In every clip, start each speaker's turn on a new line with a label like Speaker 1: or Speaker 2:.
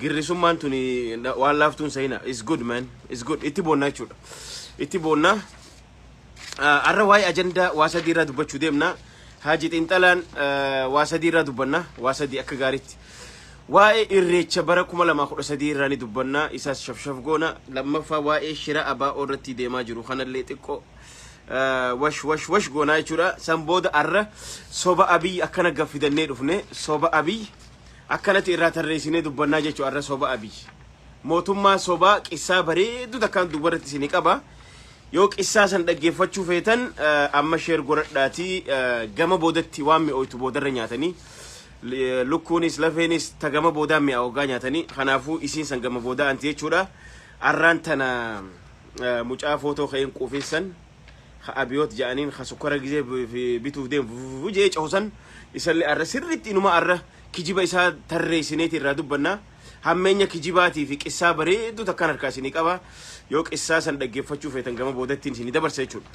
Speaker 1: Girrisummaan tuni na- waan laaftuun sahina. It's good man. It's good. Itti boonnaa jechuudha. Itti boonnaa. Ah, Har'a waa'ee ajandaa waa sadii irraa dubbachuu deemna. Haaji Xiinxalaan ah, waa sadii irraa dubbanna. Waa sadii akka gaariitti. Waa'ee irreecha bara 2013 irraa ni dubbanna. Isaas shafshaf goona. Lammaffaa waa'ee shira abaa'oo irratti deemaa jiru kanallee xiqqoo ah, wash wash wash goonaa jechuudha. San booda har'a soba abiy akkana gaffidannee dhufne. Soba abiy Akkanati irraa tarreesinee dubbannaa jechu arra soba abiy mootummaa sobaa qissaa bareedduu takkaan duuba irratti isinii qaba yoo qissaa san dhaggeeffachuu feetan amma sheer godhadhaatii gama boodatti waan mi'ooytu boodarra nyaatanii lukkuunis lafeenis ta gama boodaa mi'aa waggaa nyaatanii kanaafuu isiin san gama boodaa anti jechuudha arraan tana mucaa footoo ka'een quufeessan ka Abiyoot ja'aniin ka sukkara gizee bituuf deemu fufufu jee cohu san isallee arra sirriitti inuma arra kijiba isaa tarreessineeti irraa dubbanna. Hammeenya kijibaatii fi qissaa bareedduu takkaan harkaa isinii qaba. Yoo qissaa san dhaggeeffachuu feetan gama boodattiin isinii dabarsa jechuudha.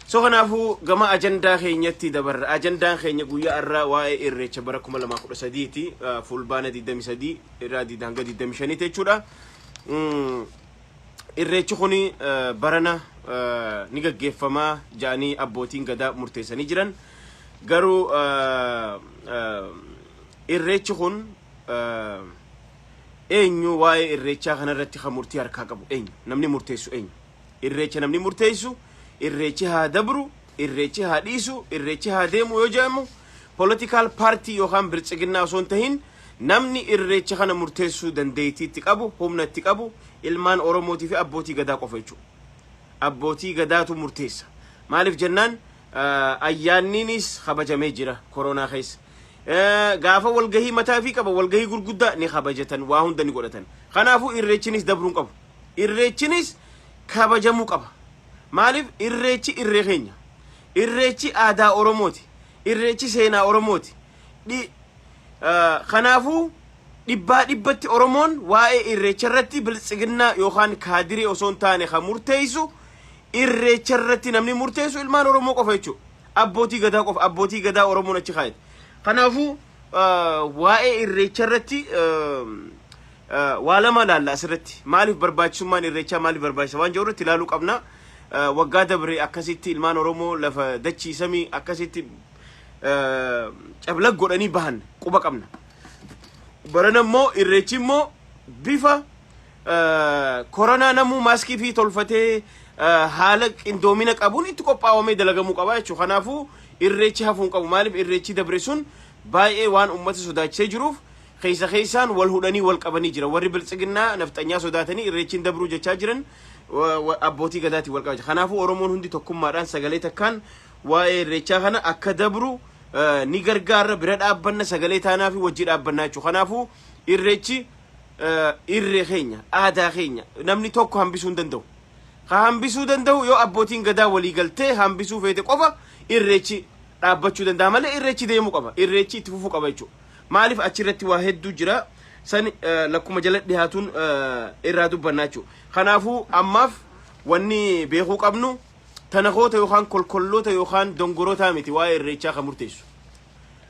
Speaker 1: So kanaafuu gama ajandaa keenyatti dabarra. Ajandaan keenya guyyaa arraa waa'ee irreecha bara 2013 ti. Fuulbaana 23 irraa hanga 25 ti jechuudha. Mm. Irreechi kun barana ni gaggeeffama jedhanii abbootiin gadaa murteessanii jiran. Garuu irreechi kun eenyu waa'ee irreechaa kanarratti kan murtii harkaa qabu eenyu namni murteessu eenyu irreecha namni murteessu irreechi haa dabru Irreechi haa dhiisu, irreechi haa deemu yoo jedhamu political party yookaan biltsiginnaa osoo hin tahin namni irreecha kana murteessuu dandeeytii itti qabu, humna itti qabu ilmaan Oromootii fi abbootii gadaa qofa jechuu dha. Abbootii gadaatu murteessa. Maaliif jennaan ayyaanniiniis kabajamee jira koronaa keessa. Gaafa walgahii mataa ifii qaba, walgahii gurguddaa ni kabajatan, waa hunda ni godhatan. Kanaafuu irreechinis dabruu hin qabu. Irreechinis kabajamuu qaba. Maaliif irreechi irree keenya. Irreechi aadaa Oromooti. Irreechi seenaa Oromooti. Dhi- eh, Kanaafuu dhibbaa dhibbatti Oromoon waa'ee irreecha irratti biltsiginnaa yookaan kaadiree osoo hin taane kan murteessu irreecha irratti namni murteessu ilmaan Oromoo qofa jechuudha. Abbootii gadaa qofa abbootii gadaa Oromoon achi kaa'eeti. Kanaafuu eh, waa'ee irreecha irratti eh, Waa lama ilaalla asirratti. Maaliif barbaachisummaan irreechaa maaliif barbaachisa waan jedhu irratti ilaaluu qabna. Waggaa dabre akkasitti ilmaan Oromoo lafa dachii samii akkasitti cablag godhanii bahan quba qabna. Barana immoo irreechi immoo bifa koronaa namuu maaskii fi tolfatee haala qindoomina qabuun itti qophaawamee dalagamuu qaba jechuudha. Kanaafuu irreechi hafuun qabu. Maaliif irreechi dabre sun baay'ee waan uummata sodaachisee jiruuf keessa keessaan wal hudhanii wal qabanii jiran. Warri biltsiginnaa nafxanyaa sodaatanii irreechi hin dabruu jechaa jiran abbootii gadaatiin wal qabaa Kanaafuu Oromoon hundi tokkummaadhaan sagalee takkaan waa'ee irreechaa kana akka dabru ni gargaarra bira dhaabbanna sagalee taanaa fi wajji dhaabbannaa jechuudha. Kanaafuu irreechi irree keenya aadaa keenya namni tokko hambisuu hin danda'u. Ka hambisuu danda'u yoo abbootiin gadaa walii galtee hambisuu feete qofa irreechi dhaabbachuu danda'a malee irreechi deemuu qaba. Irreechi itti fufuu qaba jechuudha. Maaliif achi irratti waa hedduu jira. San lakkuma jala dhihaatuun irraa dubbannaa jechuudha. Kanaafuu ammaaf wanni beekuu qabnu tanakoota yookaan kolkolloota yookaan dongorootaa miti waa'ee irreechaa kan murteessu.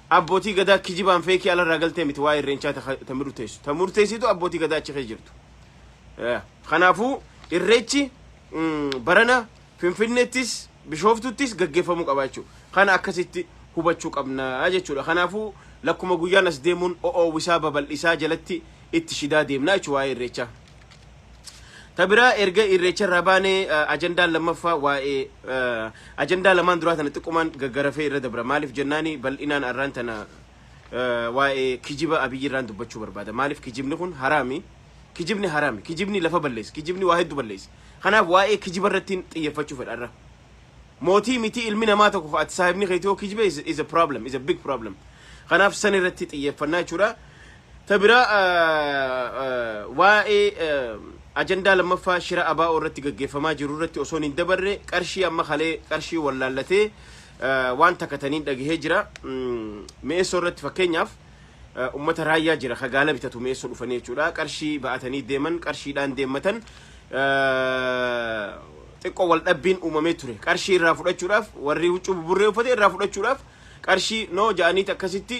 Speaker 1: Abbootii gadaa kijibaan feekii alarraa galtee miti waa'ee irreechaa ta murteessu. Ta murteessitu abbootii gadaa achi keessa jirtu. Kanaafuu irreechi barana Finfinneettis, Bishooftuuttis gaggeeffamuu qaba jechuudha. Kana akkasitti hubachuu qabna jechuudha. Kanaafuu lakkuma guyyaan as deemuun o'oowwisaa babal'isaa jalatti itti shidaa deemna jechuudha waa'ee irreechaa. Ta biraa erga irreecha irraa baanee eh, ajandaan lammaffaa waa'ee eh, ajandaa lamaan duraa tana xiqqumaan gaggarafee irra dabra. Maaliif jennaani bal'inaan arraan tana eh, waa'ee kijiba abiyyi irraan dubbachuu barbaada. Maaliif kijibni kun haraami? Kijibni haraami. Kijibni lafa balleessa. Kijibni waa heddu balleessa. Kanaaf waa'ee kijiba irrattiin xiyyeffachuu fedha irra. Mootii mitii ilmi namaa tokko ka ati saahibni keetii yoo kijibe is, is a problem, is a big problem. Kanaaf san irratti xiyyeeffannaa jechuudha. Ta biraa ah, ah, waa'ee ah, ajandaa lammaffaa shira abaa'oo irratti gaggeeffamaa jiru irratti osoon hin dabarre qarshii amma kalee qarshii wallaallatee ah, waan takataniin dhagahee jira. Mm, Mi'eessoo irratti fakkeenyaaf ummata raayyaa jira ka gaala bitatu mi'eessoo dhufanii jechuudha qarshii ba'atanii deeman qarshiidhaan deemmatan xiqqoo wal dhabbiin uumamee ture qarshii irraa fudhachuudhaaf warri huccuu buburree uffate irraa fudhachuudhaaf qarshii noo ja'aniiti akkasitti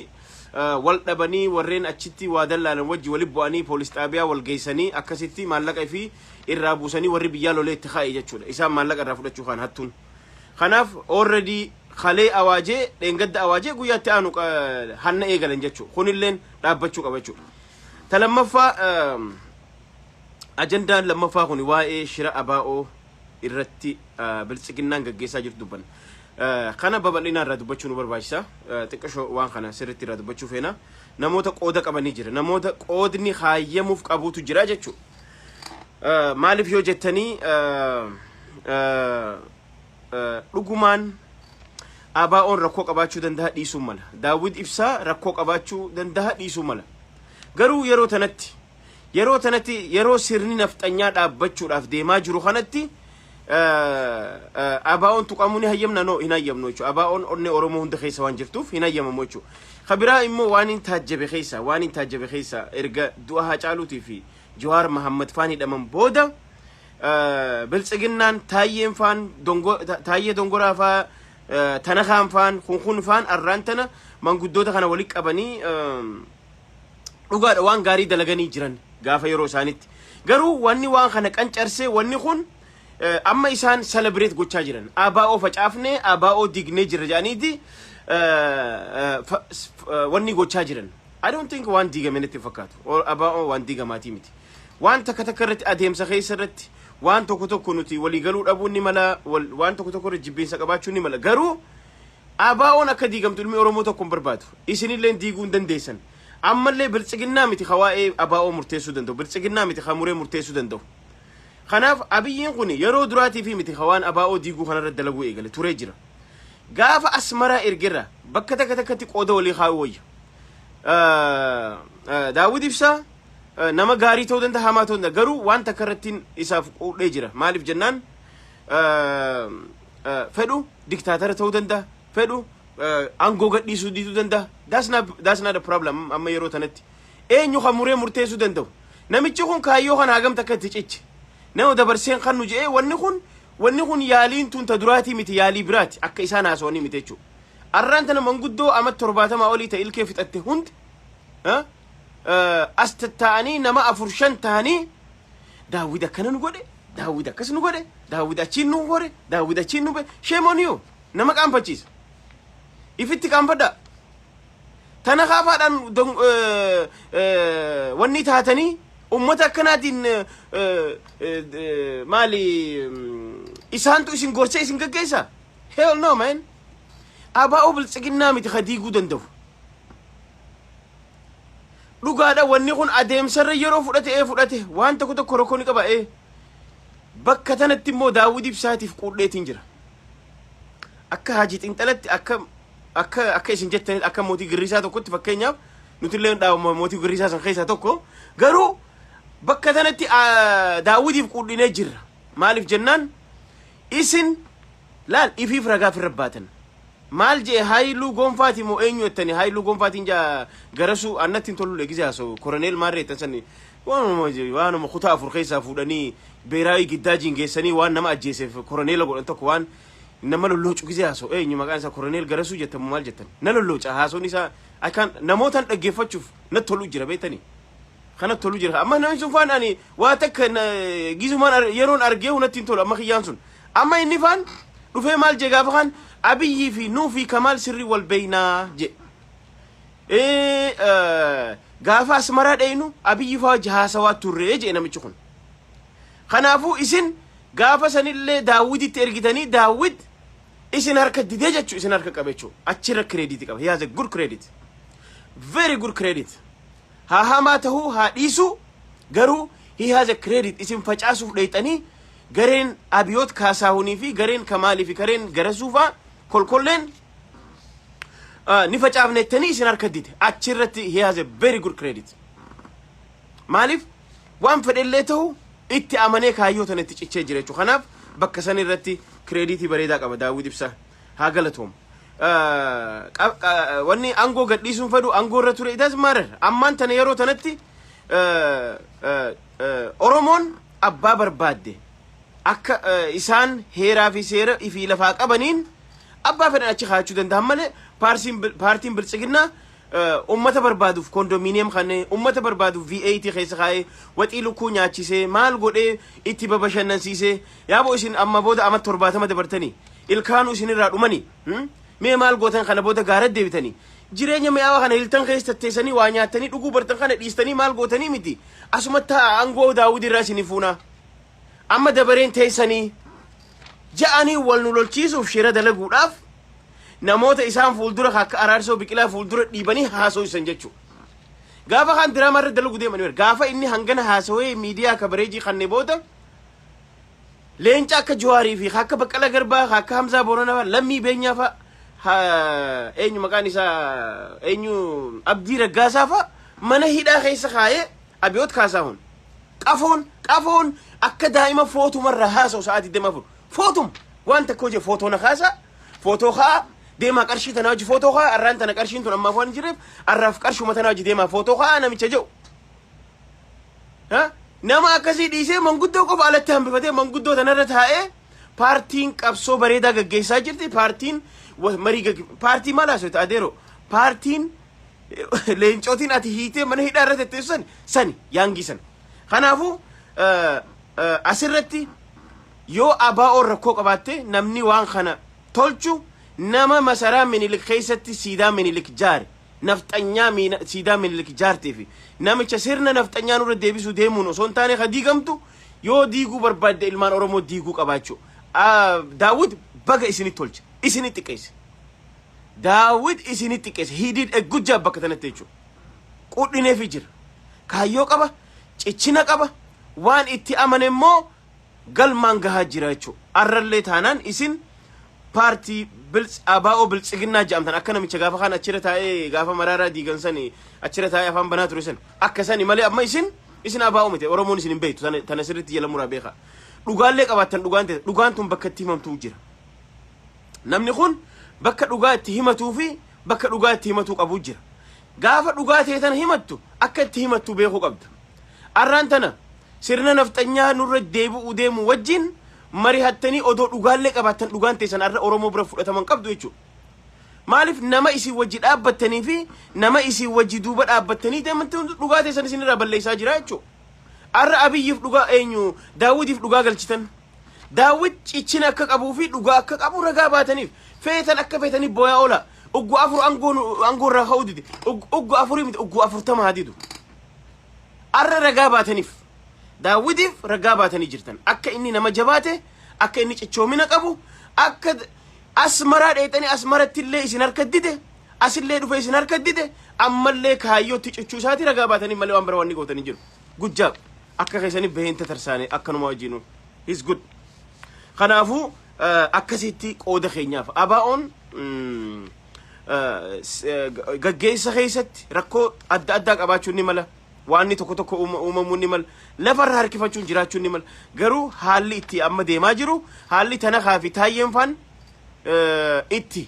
Speaker 1: wal dhabanii warreen achitti waa dallaalan wajji wali bu'anii poolis xaabiyaa wal geessanii akkasitti maallaqa fi irraa buusanii warri biyyaa lolee itti kaa'e jechuudha isaan maallaqa irraa fudhachuu kaan hattuun Kanaaf already kalee awaajee, dheengadda awaajee guyyaa itti aanu hanna eegalan jechuu. Kunilleen dhaabbachuu qaba jechuudha. Ta lammaffaa ajandaan lammaffaa kun waa'ee shira abaa'oo irratti biltsiginnaan gaggeessaa jirtu dubbanna. Kana babal'inaa irraa dubbachuu nu barbaachisa. Xiqqashoo waan kana sirriitti irraa dubbachuu feena. Namoota qooda qabanii jira. Namoota qoodni haayyamuuf qabuutu jira jechuudha. Maaliif yoo jettanii dhugumaan ABO'n rakkoo qabaachuu danda'a dhiisuu mala. Daawwit Ibsaa rakkoo qabaachuu danda'a dhiisuu mala. Garuu yeroo tanatti yeroo tanatti yeroo sirni nafxanyaa dhaabbachuudhaaf deemaa jiru kanatti ABO'n tuqamuu ni hayyamna noo hin hayyamnu jechuudha. ABO'n onnee Oromoo hunda keessa waan jirtuuf hin hayyamamu jechuudha. Kabiraa immoo waan hin taajjabe keessa waan hin taajjabe keessa erga du'a Haacaaluutii fi Jawaar Mahammad faan hidhaman booda biltsiginnaan taayyeen faan taayyee dongoraa faa tana kaan faan kun kun faan arraan tana manguddoota kana walitti qabanii dhugaadha waan gaarii dalaganii jiran gaafa yeroo isaanitti garuu wanni waan kana qancarsee wanni kun amma isaan selebireet gochaa jiran abaa'oo facaafnee abaa'oo dignee jirra jedhaniiti wanni gochaa jiran I don't think waan diigame natti hin fakkaatu. Or ABOn waan diigamaatii miti. Waan takka takka irratti adeemsa keessa irratti waan tokko tokko nuti walii galuu dhabuun ni mala, wal- waan tokko tokko irra jibbiinsa qabaachuun ni mala. Garuu ABOn akka diigamtu ilmi Oromoo tokko hin barbaadu. Isinillee diiguu hin dandeessan. Ammallee biltsiginnaa miti ka waa'ee ABO murteessuu danda'u. Biltsiginnaa miti ka muree murteessuu danda'u. Kanaaf abiyyiin kun yeroo duraatii fi miti ka waan ABO diiguu kanarra dalaguu eegale turee jira. Gaafa asmaraa ergerra bakka takka takkatti qooda walii kaa'uu wayya. Daawwit Ibsaa nama gaarii ta'uu danda'a hamaa ta'uu danda'a garuu waan takka irratti isaaf quudhee jira maaliif jennaan fedhu diktaatara ta'uu danda'a fedhu aangoo gadhiisuu diduu danda'a that's not a problem amma yeroo tanatti eenyu kan muree murteessuu danda'u namichi kun kaayyoo kana hagam takka itti ciche nama dabarseen kan nu je'ee wanni kun wanni kun yaaliin tun ta duraatii miti yaalii biraati akka isaan haasawanii miti jechuudha Arraan tana manguddoo amat torbaatamaa olii ta ilkee fixatte hundi as tattaa'anii nama afur shan tahanii daawwid akkana nu godhe daawwid akkas nu godhe daawwid achiin nu hore daawwid achiin nu be shame on you nama qaanfachiisa ifitti qaanfadhaa tana kaafaadhaan don- eh, eh, wanni taatanii ummata akkanaatiin eh, eh, eh, maali mm, isaantu isin gorsee isin gaggeessa hell no man Abaa'oo biltsiginnaa miti ka diiguu danda'u. Dhugaadha wanni kun adeemsarra yeroo fudhate ee fudhate waan tokko tokko rakkoo ni qaba ee. Bakka tanatti immoo daawwid ibsaatiif quudheetiin jira. Akka haaji xinxalatti akka akka akka isin jettanitti akka mootii girrisaa tokkotti fakkeenyaaf nuti illee dhaabama mootii girrisaa san keessaa tokko garuu bakka tanatti daawwidiif quudhinee jirra. Maaliif jennaan isin Laal ifiif ragaa firra baatan. Maal je'e Haayiluu Gonfaati moo eenyu jettani Haayiluu Gonfaatiin ja Garasuu an natti hin tollu le gizee haasa'u Koroneel Maarree jettan sanni waanuma waanuma kutaa afur keessaa fuudhanii Beeraawii Giddaajiin geessanii waan nama ajjeeseef Koroneela godhan tokko waan nama lolloocu gizee haasa'u eenyu maqaan isaa Koroneel Garasuu jettan moo maal jettan na lollooca haasawni isaa I can't namootaan dhaggeeffachuuf natti toluu jira beektanii kana tolu jira amma namni sun faan ani waa takka na- gizumaan ar- yeroon argee hunatti hin tolu amma kiyyaan sun Amma inni faan dhufee maal jee gaafa kaan Abiyyi fi nuu fi Kamaal sirrii wal beeynaa jee. Gaafa asmaraa dheeynu Abiyyi faa wajji haasawaa turree jee namichi kun. Kanaafuu isin gaafa sanillee daawwititti ergitanii daawwit isin harka didee jechu isin harka qabe jechu achirra kireediiti qaba. He has a good credit. Very good credit. Haa hamaa tahuu haa dhiisuu garuu he has a credit isin facaasuuf dheyxanii gareen Abiyoot Kaasaahunii fi gareen Kamaalii fi gareen Garasuu faa kolkolleen ah, ni facaafna jettanii isin harka dide achi irratti he has a very good credit maaliif waan fedhellee ta'u itti amanee kaayyoo tana itti cichee jira jechuudha kanaaf bakka san irratti kireediitii bareedaa qaba daawwit ibsaa haa galatoomu. Eh, qa- qa- Wanni aangoo gadhiisuun fedhu aangoo irra ture itas maarer ammaan tana yeroo tanatti eh, eh, eh, Oromoon abbaa barbaadde akka eh, isaan heeraa fi seera fi lafaa qabaniin abbaa fedhan achi kaa'achuu danda'an malee paarsiin bil- paartiin biltsiginnaa eh, ummata barbaaduuf kondominiyeem kanne ummata barbaaduuf VAT keessa kaa'ee waxii lukkuu nyaachisee maal godhee itti babashannansiisee Yaabo isin amma booda amat torbaatama dabartanii ilkaanu isin irraa dhumani hmm? mee maal gootan kana booda gaara deebitanii jireenya mi'aawa kana hiltan keessa tatteessanii waa nyaattanii dhuguu bartan kana dhiistanii maal gootanii miti asuma ta'a aangoo daawwidi irraa isin fuuna amma dabareen teessanii ja'anii wal nu lolchiisuuf shira dalaguudhaaf namoota isaan fuuldura akka araarsoo biqilaa fuuldura dhiibanii haasoo isan jechuudha. Gaafa kan diraamaa irra dalagu deemanii gaafa inni hangana haasawee miidiyaa kabareejii kannee booda Leenca akka Juwaarii fi akka Baqqala Garbaa, akka Hamzaa Boorana fa'a, Lammii Beenyaa fa'a, eenyu maqaan isaa eenyu Abdii Raggaasaa fa'a mana hidhaa keessa kaa'ee Abiyoot Kaasaahun. Qafoon qafoon akka daa'ima footuma irraa haasa'u sa'aa 24 footum waan takka hojii footoo na kaasaa footoo ka'aa deemaa qarshii tana hojii footoo ka'aa arraan tana qarshiin tun ammaaf waan hin jirreef arraaf qarshuma tana hojii deemaa footoo ka'aa namicha jedhu Ha? Nama akkasii dhiisee manguddoo qofa alatti hambifatee manguddoo tanarra taa'ee paartiin qabsoo bareedaa gaggeessaa jirti. Paartiin wa- marii gagge- paartii maal haasofte adeero? Paartiin eh, leencootiin ati hiitee mana hidhaa irratti itti ibsan sani yaangii sana. Kanaafuu eh, eh, asirratti yoo abaa'oon rakkoo qabaatte namni waan kana tolchu nama masaraa minilik keessatti siidaa minilik jaare nafxanyaa miin siidaa Minilik ijaarte fi namicha sirna nafxanyaa nurra deebisuu deemuun osoo hin taane ka diigamtu yoo diiguu barbaadde ilmaan Oromoo diiguu qabaachuu. Ah, Daawwit baga isini tolche, isini xiqqeesse. Daawwit isini xiqqeesse. He did a good job bakka tanatti jechuudha. Qudhineefi jira. Kaayyoo qaba, cichina qaba, waan itti amane immoo galmaan gahaa jira jechuudha. Arrallee taanaan isin paartii bilts abaa'oo biltsiginnaa jedhamtan akka namicha gaafa kaan achirra taa'ee gaafa maraaraa diigan sani achirra taa'ee afaan banaa ture san akka sani malee amma isin isin abaa'oo miti oromoon isin hin beektu tana tana sirriitti jala muraa beekaa dhugaallee qabaattan dhugaan ta'e dhugaan tun bakka itti himamtuu jira namni kun bakka dhugaa itti himatuu fi bakka dhugaa itti himatuu qabu jira gaafa dhugaa ta'e tana himattu akka itti himattu beekuu qabda arraan tana Sirna nafxanyaa nurra deebi'uu deemu wajjin marihattanii odoo dhugaallee qabaattan dhugaan teessan arra Oromoo bira fudhatama hin qabdu jechuudha. Maaliif nama isin wajji dhaabbattanii fi nama isin wajji duuba dhaabbattanii deemtan dhugaa teessan isin irraa balleessaa jira jechuudha. Arra Abiyyiif dhugaa eenyu Daawwitiif dhugaa galchitan. Daawwit cichina akka qabuu fi dhugaa akka qabu ragaa baataniif feetan akka feetanii booyaa oola. Uggu afur aangoo irraa ka'uu dide. Uggu afurii miti uggu afurtama haa didu. Arra ragaa baataniif. Daawwitiif ragaa baatanii jirtan. Akka inni nama jabaate, akka inni cichoomina qabu, akka d- asmaraa dheexanii asmaratti illee isin harka dide, asillee dhufee isin harka dide, ammallee kaayyootti cichuu isaati ragaa baataniif malee waan bira wanni gootan hin jiru. Good job. Akka keessaniif baheen tatarsaane akkanuma wajjinu. He's good. Kanaafuu eh, akkasitti qooda keenyaaf. Abaa'oon mm, gaggeessa keessatti rakkoo adda addaa qabaachuun ni mala. Waanni tokko tokko uumamuun ni mala. Lafarra harkifachuun jiraachuun ni mala. Garuu haalli itti amma deemaa jiru haalli tanakaa fi taayyeen faan itti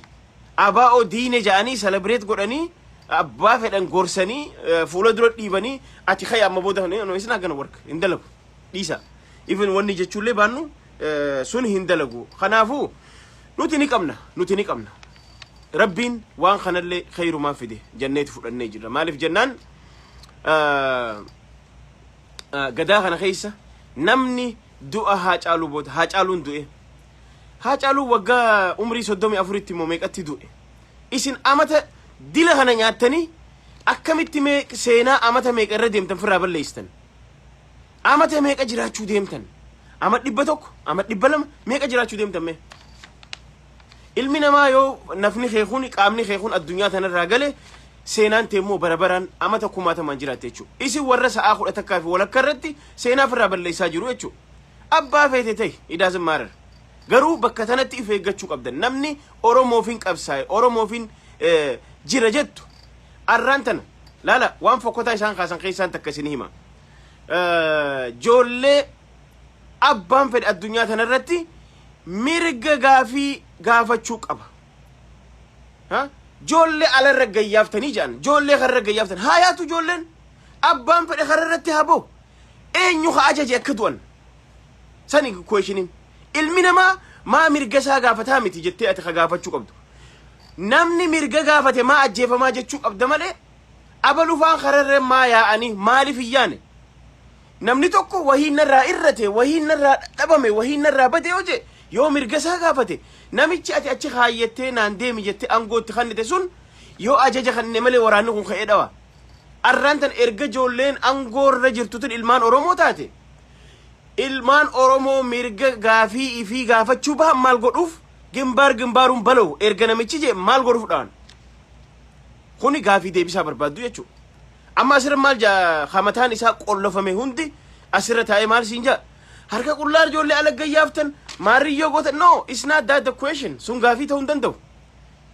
Speaker 1: abaa'oo diine ja'anii selebireet godhanii abbaa fedhan gorsanii fuula dura dhiibanii ati kaya amma booda isin akkana warka hin dalagu dhiisa. Even wanni jechuullee baannu eh, sun hin dalagu kanaafu nuti ni qabna nuti ni qabna rabbiin waan kanallee kheyrumaa fide janneeti fudhannee jirra maaliif jennaan eh, eh, gadaa kana keessa namni du'a haa caaluu booda haa caaluun du'e haa caaluu waggaa umrii soddomii afuritti immoo meeqatti du'e isin amata dila kana nyaattanii akkamitti mee seenaa amata meeqa irra deemtan firraa balleesstan Amata meeqa jiraachuu deemtan? Ama dhibba tokko, ama dhibba lama meeqa jiraachuu deemtan mee? Ilmi namaa yoo nafni kee kun qaamni kee kun addunyaa tanarraa gale seenaan tee immoo bara baraan amata kumaatamaan jiraatte jechuudha. Isin warra sa'aa kudha takkaa fi walakkaa irratti seenaa ofirraa balleessaa jiru jechuudha. Abbaa feete ta'e idaasin maarar. Garuu bakka tanatti if eeggachuu qabdan. Namni Oromoofiin qabsaa'e Oromoofiin eh, jira jettu arraan tana laala waan fokkotaa isaan kaasan keessaan takka isin hima. Joollee abbaan fedhe addunyaa tana irratti mirga gaafii gaafachuu qaba. Ha? Joollee ala irra gayyaaftanii jedhan. Joollee karra gayyaaftan. Haa yaatu joolleen. Abbaan fedhe karra irratti haa ba'u. Eenyu haa ajaje akka du'an. Sani kuweeshiniin. Ilmi namaa maa mirga isaa gaafataa miti jettee ati ka gaafachuu qabdu. Namni mirga gaafate maa ajjeefamaa jechuu qabda malee Abalufaan kararreen maa yaa'anii maaliif hin yaane? Namni tokko wahiin narraa irrate, wahiin narraa dhabame, wahiin narraa bade yoo jee yoo mirga isaa gaafate namichi ati achi kaayyattee naan deemi jettee aangootti kannite sun yoo ajaja kannine malee waraanni kun ka'ee dhawa. Arraan tan erga ijoolleen aangoo irra jirtutin ilmaan Oromoo taate ilmaan Oromoo mirga gaafii ifii gaafachuu bahan maal godhuuf gimbaar gimbaaruun balow erga namichi jee maal godhuuf dhawan? Kuni gaafii deebisaa barbaaddu jechuudha. Amma asirra maal jaa hamataan isaa qollofame hundi asirra taa'ee maal siin jaa? Harka qullaa ijoollee alagga yaaftan maarriyyoo goota no it's not that the question sun gaafii ta'uu hin danda'u.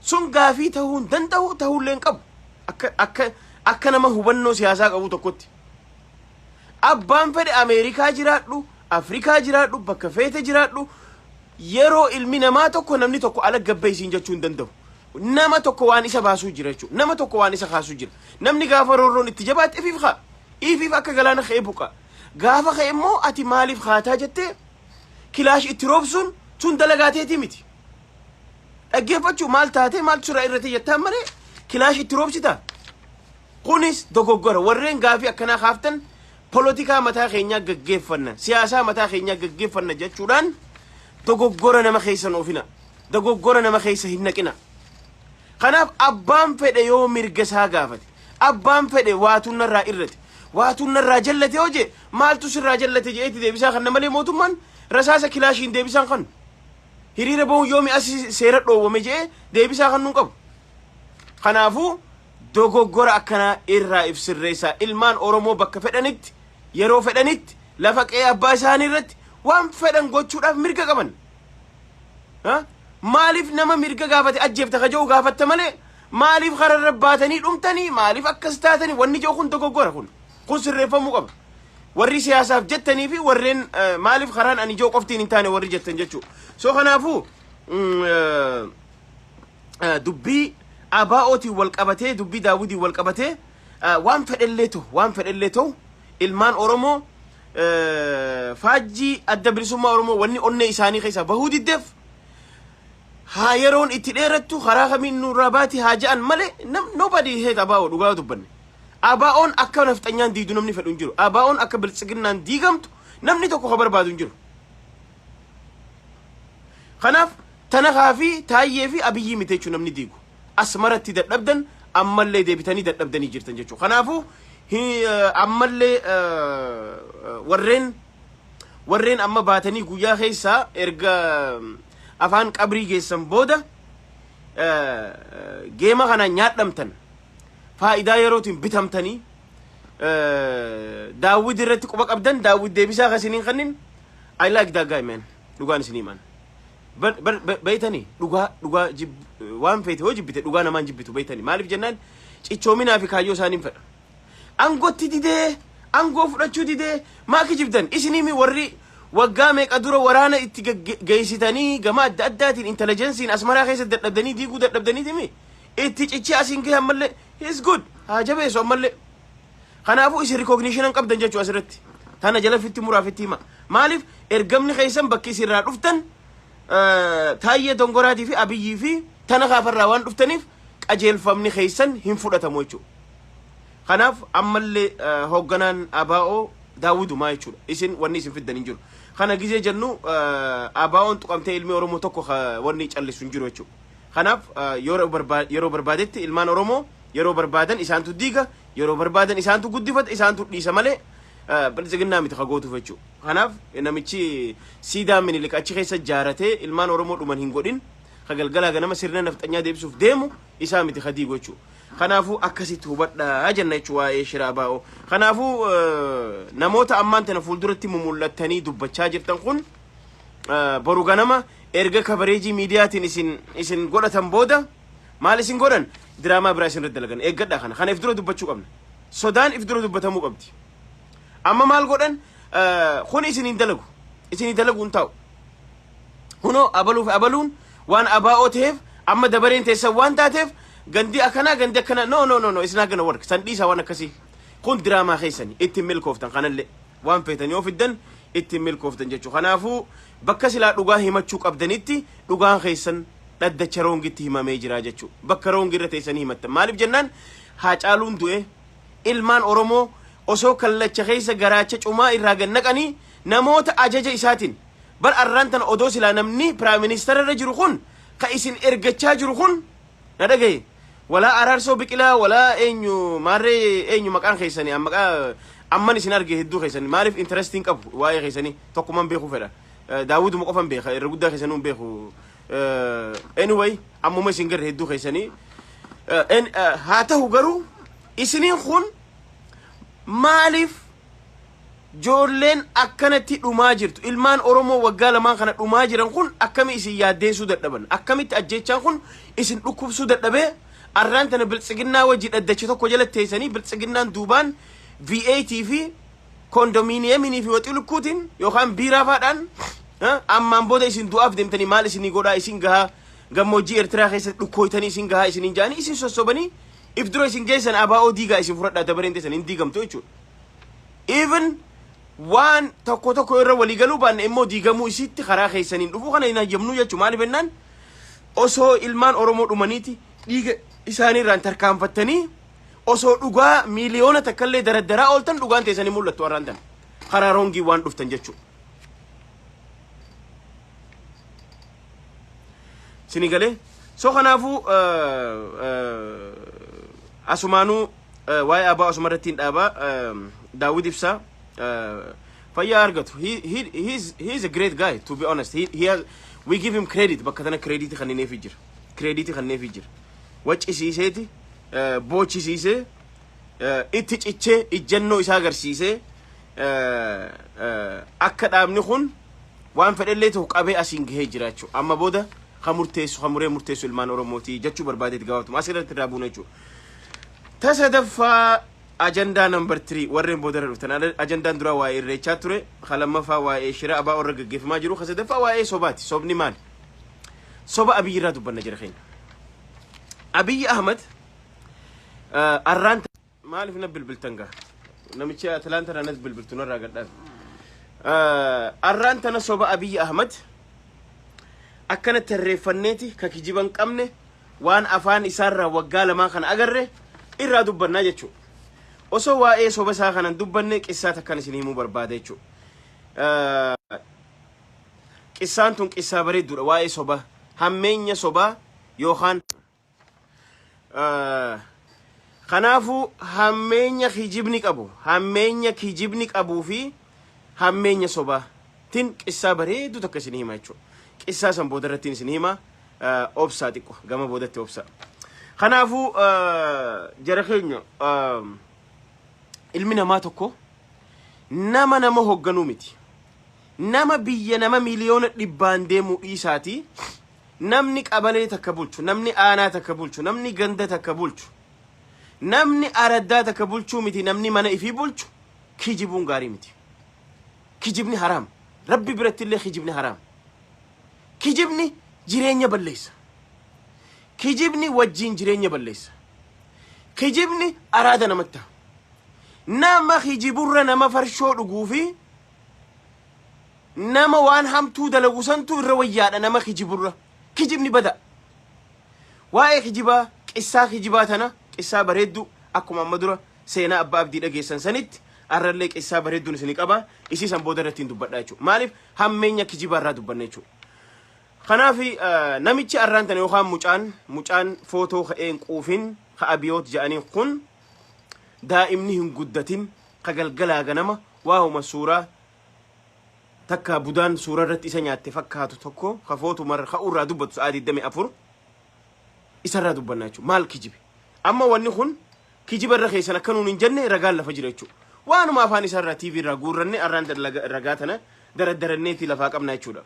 Speaker 1: Sun gaafii ta'uu hin danda'u ta'uullee hin qabu. Akka akka akka nama hubannoo siyaasaa qabu tokkotti. Abbaan fedhe Ameerikaa jiraadhu, Afrikaa jiraadhu, bakka feete jiraadhu yeroo ilmi namaa tokko namni tokko alagga bahi siin jechuu hin danda'u. Nama tokko waan isa baasuu jira jechuudha. Nama tokko waan isa kaasuu jira. Namni gaafa roorroon itti jabaate ifiif kaa. Ifiif akka galaana ka'ee buqa. Gaafa ka'e immoo ati maaliif kaataa jettee kilaash itti roobsuun sun dalagaa teetii miti. Dhaggeeffachuu maal taatee maaltu sirraa irratti jettaan malee kilaash itti roobsita. Kunis dogoggora warreen gaafii akkanaa kaaftan polotikaa mataa keenyaa gaggeeffanna siyaasaa mataa keenyaa gaggeeffanna jechuudhaan Dogoggora nama keessa hin oofina. Dogoggora nama keessa hin naqina. Kanaaf abbaan fedhe yoo mirga isaa gaafate, abbaan fedhe waatuun narraa irrate, waatuun narraa jallate yoo jee maaltu sirraa jallate jeetti deebisaa kanna malee mootummaan rasaasa kilaashiin deebisaan kan hiriira bahuun yoo mi'a si- seera dhoowwame jee deebisaa kan nun qabu. Kanaafuu dogoggora akkanaa irraa ibsirreessaa ilmaan Oromoo bakka fedhanitti yeroo fedhanitti lafa qe'ee abbaa isaanii irratti waan fedhan gochuudhaaf mirga qaban. Ha? Maaliif nama mirga gaafate ajjeefta ka jedhu gaafatta malee maaliif kararra baatanii dhumtanii maaliif akkas taatanii wanni jedhu kun dogoggora kun kun sirreeffamuu qaba. Warri siyaasaaf jettanii fi warreen eh, maaliif karaan ani ijoo qoftiin hin taane warri jettan jechuudha. So kanaafuu mm, eh, eh, dubbii ABOtiin wal qabatee dubbii daawwitiin wal qabatee Eh, Waan fedhellee ta'u, waan fedhellee ta'u ilmaan Oromoo eh, faajjii adda bilisummaa Oromoo wanni onnee isaanii keessaa bahuu diddeef haa yeroon itti dheerattu karaa kamiin nurraa baati haa ja'an malee nam- nobody hate abaa'oo dhugaa dubbanne. Abaa'oon akka nafxanyaan diidu namni fedhu hin jiru. Abaa'oon akka biltsiginnaan diigamtu namni tokko ka barbaadu hin jiru. Kanaaf tanakaa fi taayyee fi abiyyii miti jechuun namni diigu. Asmaratti dadhabdan ammallee deebitanii dadhabdanii jirtan jechuudha. Kanaafuu ammallee warreen warreen amma baatanii guyyaa keessaa erga afaan qabrii geessan booda geema kana nyaadhamtan faayidaa yerootiin bitamtanii daawwid irratti quba qabdan daawwid deebisaa kan isiniin kannin I like that guy man dhugaan isinii man. Bar- bar- bar- Beeytanii dhugaa dhugaa jib- waan feete yoo jibbite dhugaa namaan jibbitu beeytanii maaliif jennaan cichoominaa fi kaayyoo isaaniin fedha. Angootti didee angoo fudhachuu didee maa kijibdan isinimi warri waggaa meeqa dura waraana itti gagge- geessitanii gama adda addaatiin intelijensiin asmaraa keessa dadhabdanii diiguu dadhabdaniitimi itti cichee asiin gahe ammallee is good haa jabeessu ammallee. Kanaafuu isin recognition hin qabdan jechuu asirratti. Tana jala fitti muraa fitti hima. Maaliif ergamni keessan bakki isin irraa dhuftan eh, Taayyee Dongoraatii fi Abiyyii fi tana kaafarraa waan dhuftaniif qajeelfamni keessan hin fudhatamu jechuudha. Kanaaf ammallee eh, hoogganaan ABO daawwidumaa jechuudha. Isin wanni isin fiddan hin jiru. Kana gizee jennu eh, ABO'n tuqamtee ilmi Oromoo tokko ka- wanni callisu hin jiru jechuudha. Kanaaf yeroo barbaadetti ilmaan Oromoo yeroo barbaadan isaantu diiga, yeroo barbaadan isaantu guddifata, isaantu dhiisa malee biltsiginnaa miti ka gootuuf jechuu. Kanaaf namichi siidaa minilik achi keessa jaaratee ilmaan Oromoo dhuman hin godhin ka galgalaa ganama sirna nafxanyaa deebisuuf deemu isaa miti ka diigu jechuu. Kanaafuu akkasitti hubadhaa jenna jechuu waa'ee shiraa baa'oo. Kanaafuu namoota ammaan tana fuulduratti mumul'attanii dubbachaa jirtan kun boru ganama erga kabareejii miidiyaatiin isin isin godhatan booda maal isin godhan diraamaa biraa isin irratti dalagan eeggadha kana kana if dura dubbachuu qabna sodaan if dura dubbatamuu qabdi amma maal godhan kun isin hin dalagu isin hin dalagu hin taa'u kunoo abaluuf abaluun waan abaa'oo ta'eef amma dabareen teessan waan taateef gandi akkanaa gandi akkanaa no no no no isin hagana warra san dhiisaa waan akkasii kun diraamaa keessani ittiin milkooftan kanallee waan feetan yoo fiddan itti hin milkooftan jechu kanaafuu bakka silaa dhugaa himachuu qabdanitti dhugaan keessan dhaddacha roongitti himamee jira jechu bakka roongi irra teessanii himattan maaliif jennaan haacaaluun du'e ilmaan oromoo osoo kallacha keessa garaacha cumaa irraa gad naqanii namoota ajaja isaatiin bar arraan tana odoo silaa namni piraayim ministeera irra jiru kun ka isin ergachaa jiru kun Na dhagahi. Walaa Araarsoo Biqilaa walaa eenyu maarree eenyu maqaan keessanii an maqaa amman isin arge hedduu keessanii maaliif interest hin qabu waa'ee keessanii tokkuman beekuu fedha. Eh, Daawwiduma qofan beeka irra guddaa keessanuu hin beeku. Eh, Anyway ammuma isin garre hedduu keessanii. Eh, en- eh, Haa ta'u garuu isiniin kun maaliif Joolleen akkanatti dhumaa jirtu. Ilmaan Oromoo waggaa lamaan kana dhumaa jiran kun akkami isin yaaddeessuu dadhaban? Akkamitti ajjeechaan kun isin dhukkubsuu dadhabee arraan tana biltsiginnaa wajji dhaddacha tokko jala teessanii biltsiginnaan duubaan VAT fi kondominiyeminii fi waxii lukkuutiin yookaan biiraa faadhaan ha, ammaan booda isin du'aaf deemtanii maal isinii godhaa isin gahaa gammoojjii Eertiraa keessatti dhukkooytanii isin gahaa isiniin jaanii isin sossobanii if dura isin geessan abaa'oo diigaa isin fudhadhaa dabareen teessan hin diigamtu jechuudha. even waan tokko tokko irra walii galuu baanne immoo diigamuu isiitti karaa keessaniin dhufuu kana hin hayyamnuu jechuu maaliif jennaan osoo ilmaan Oromoo dhumaniiti dhiiga isaanii irraan tarkaanfattanii osoo dhugaa miiliyoona takkallee daraddaraa ooltan dhugaan teessanii mul'attu har'aan tan karaa roongii waan dhuftan jechuu. Sini galee so kanaafuu eh, eh, asumaanuu waa'ee abaa osuma irratti hin dhaaba daawwit ibsaa fayyaa argatu he, he, he's, he's a great guy to be honest he, he has, we give him credit bakka tana credit kannineefi jira credit kannineefi jira waccisiiseeti eh, boochisiisee eh, itti cichee ijjannoo isaa agarsiisee eh, eh, akka dhaabni kun waan fedhellee ta'u qabee asiin gahee jira jechuudha. Amma booda kan murteessu kan muree murteessu ilmaan Oromootii jechuu barbaadeeti gabaabtuma asirratti irraa buuna jechuudha. Ta sadaffaa ajandaa number 3 warreen boodarra dhuftan Ada- ajandaan duraa waa'ee irreechaa ture ka lammaffaa waa'ee shira abaa warra gaggeeffamaa jiru ka sadaffaa waa'ee sobaati sobni maali soba abiyyi irraa dubbanna jira keenya abiyyi ahmad eh, arraan ta- maaliif na bilbiltan gaa namichi atlaanta irraa nas bilbiltu narraa gadhaaf Eh, arraan tana soba abiyyi ahmad akkana tarreeffanneeti ka kijiban qabne waan afaan isaarraa waggaa lamaa kana agarre irraa dubbannaa jechuu osoo waa'ee soba isaa kanan dubbanne qissaa takkan isin himuu barbaada jechuu qissaan tun qissaa bareedduudha waa'ee soba hammeenya sobaa yookaan Kanaafuu hammeenya kijibni qabu, hammeenya kijibni qabuu fi hammeenya sobaa tin qissaa bareedduu takka isinii hima jechuudha. Qissaa san booda irrattiin isinii hima obsaa xiqqo gama boodatti obsaa. Kanaafuu jara keenya ilmi namaa tokko nama nama hogganuu miti. Nama biyya nama miliyoona dhibbaan deemuu dhiisaatii Namni qabalee takka bulchu, namni aanaa takka bulchu, namni ganda takka bulchu, namni araddaa takka bulchuu miti namni mana ifii bulchu kijibuun gaarii miti. Kijibni haraam. Rabbi biratti illee kijibni haraam. Kijibni jireenya balleessa. Kijibni wajjiin jireenya balleessa. Kijibni araada namatti ta'a. Nama kijiburra nama farshoo dhuguu fi Nama waan hamtuu dalagu santu irra wayyaadha nama kijiburra. Kijibni bada. Waa'ee kijibaa, qissaa kijibaa tana, qissaa bareeddu akkuma amma dura seenaa abbaa abdii dhageessan sanitti arrallee qissaa bareedduun isini qaba. Isii san booda irratti hin dubbadha jechuudha. Maaliif hammeenya kijibaa irraa dubbanne jechuudha. Kanaaf namichi arraan tana yookaan mucaan mucaan footoo ka'ee hin quufin ka abiyoot ja'aniin kun daa'imni hin guddatin ka galgalaa ganama waahuma suuraa takka budaan suuraa irratti isa nyaatte fakkaatu tokko ka footu marra ka urraa dubbatu sa'aa 24 isarraa dubbannaa jechuudha. Maal kijibe? Amma wanni kun kijiba irra keessan akka nuun hin jenne ragaan lafa jira jechuudha. Waanuma afaan isaarraa TV irraa guurranne arraan ragaa tana daraddaranneetii lafaa qabna jechuudha.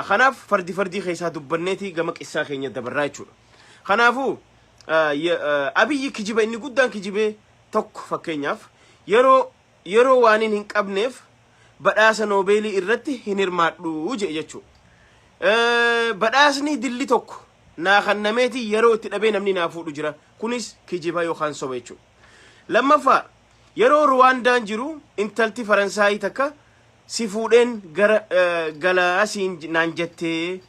Speaker 1: Kanaaf fardi fardii keessaa dubbanneetii gama qissaa keenya dabarraa jechuudha. Kanaafuu abiyyi kijiba inni guddaan kijibee tokko fakkeenyaaf yeroo Yeroo waanin hin qabneef badhaasa Noobeelii irratti hin hirmaadhu je'e jechuu. Badhaasni dilli tokko naa kannameeti yeroo itti dhabee namni naa fuudhu jira. Kunis kijiba yookaan soba jechuu. Lammaffaa yeroo Ruwaandaan jiru intalti Faransaayii takka si fuudheen gara gala siin naan jettee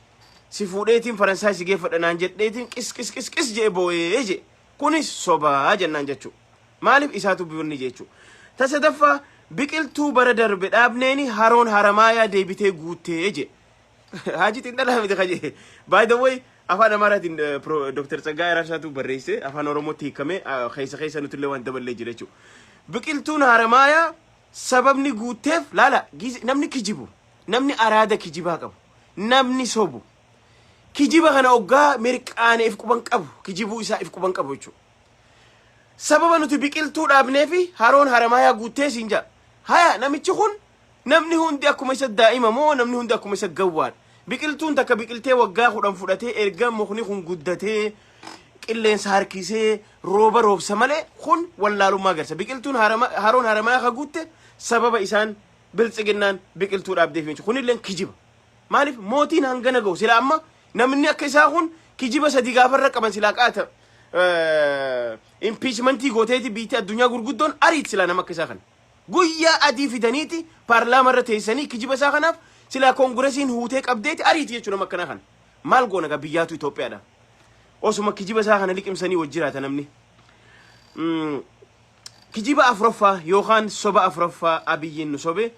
Speaker 1: si fuudheetiin Faransaay si geeffadha naan jedheetiin qis qis qis qis je'e booyee je'e. Kunis soba jennaan jechu. Maaliif isaatu birni jechu. Ta sadaffaa biqiltuu bara darbe dhaabneeni haroon haramaayaa deebitee guuttee je. Haaji xiinxalaa miti kaje. By the way afaan Amaaraatiin Dr. Tsaggaa Araarsaatu barreesse afaan Oromootti hiikamee keessa keessa nuti illee waan daballee jira jechuudha. Biqiltuun haramaayaa sababni guutteef laala namni kijibu namni araada kijibaa qabu namni sobu. Kijiba kana oggaa mirqaane if quban qabu kijibuu isaa if quban qabu jechuudha. Sababa nuti biqiltuu dhaabneefi haroon haramaayaa guuttee siin ja'a. Haya namichi kun namni hundi akkuma isa daa'ima moo namni hundi akkuma isa gawwaadha. Biqiltuun takka biqiltee waggaa kudhan fudhatee erga mukni kun guddatee qilleensa harkisee rooba roobsa malee kun wallaalummaa agarsa. Biqiltuun harama- haroon haramaayaa ka guutte sababa isaan biltsiginnaan biqiltuu dhaabdeef jechuudha. Kunilleen kijiba. Maaliif mootiin hangana gahu silaa amma namni akka isaa kun kijiba sadii gaafa irra qaban silaa qaata impiichmentii gooteeti biitti addunyaa gurguddoon ariit silaa nama akka isaa kana. Guyyaa adii fidaniiti paarlaamaa irra teessanii kijiba isaa kanaaf silaa koongiresiin huutee qabdeeti ariiti jechuun nama akkanaa kana. Maal goona gaa biyyaatu Itoophiyaadha. Osuma kijiba isaa kana liqimsanii wajjiraata namni. Mm. Kijiba afuraffaa yookaan soba afuraffaa Abiyyiin nu sobe,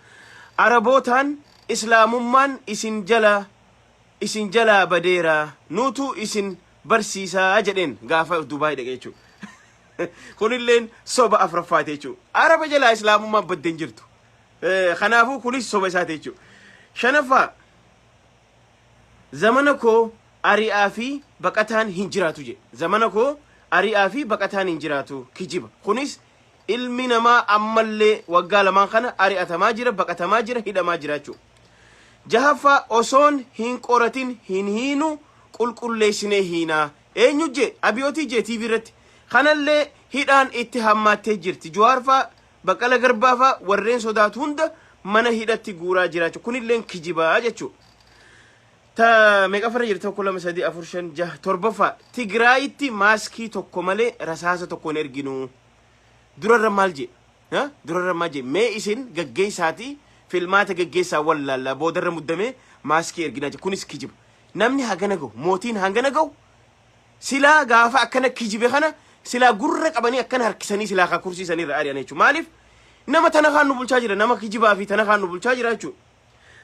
Speaker 1: Arabootaan Islaamummaan isin jala isin jalaa badeera, nuutu isin barsiisa jedheen gaafa Dubaay dhaqe jechuudha. Kunilleen soba afuraffaati jechuudha. Araba jalaa Islaamummaan badde hin jirtu. Kanaafuu kunis soba isaati jechuudha. Shanaffaa Zamana koo ari'aa fi baqataan hin jiraatu jedhe. Zamana koo ari'aa fi baqataan hin jiraatu. Kijiba. Kunis ilmi namaa ammallee waggaa lamaan kana ari'atamaa jira, baqatamaa jira, hidhamaa jira jechuudha. Jahaffaa osoon hin qoratin hin hiinu qulqulleessinee hiina. Eenyu jee? Abiyootii jee TV irratti. Kanallee hidhaan itti hammaattee jirti. Juwaarfaa Baqqala Garbaa faa warreen sodaatu hunda mana hidhatti guuraa jiraachu kunilleen kijiba jechuu. Ta meeqaffarra jirti tokko lama sadii afur shan jaha torbaffaa Tigraayitti maaskii tokko malee rasaasa tokko hin erginu. Durarra maal jee? Ha? Durarra maal jee? Mee isin gaggeessaati filmaata gaggeessaa wallaallaa boodarra muddamee maaskii erginaa jee. Kunis kijiba. Namni hagana gahu mootiin hangana gahu silaa gaafa akkana kijibe kana silaa gurra qabanii akkana harkisanii silaa kaa kursii sanii irra ari'an jechuudha. Maaliif nama tana kaan nu bulchaa jira nama kijibaa fi tana kaan nu bulchaa jira jechuudha.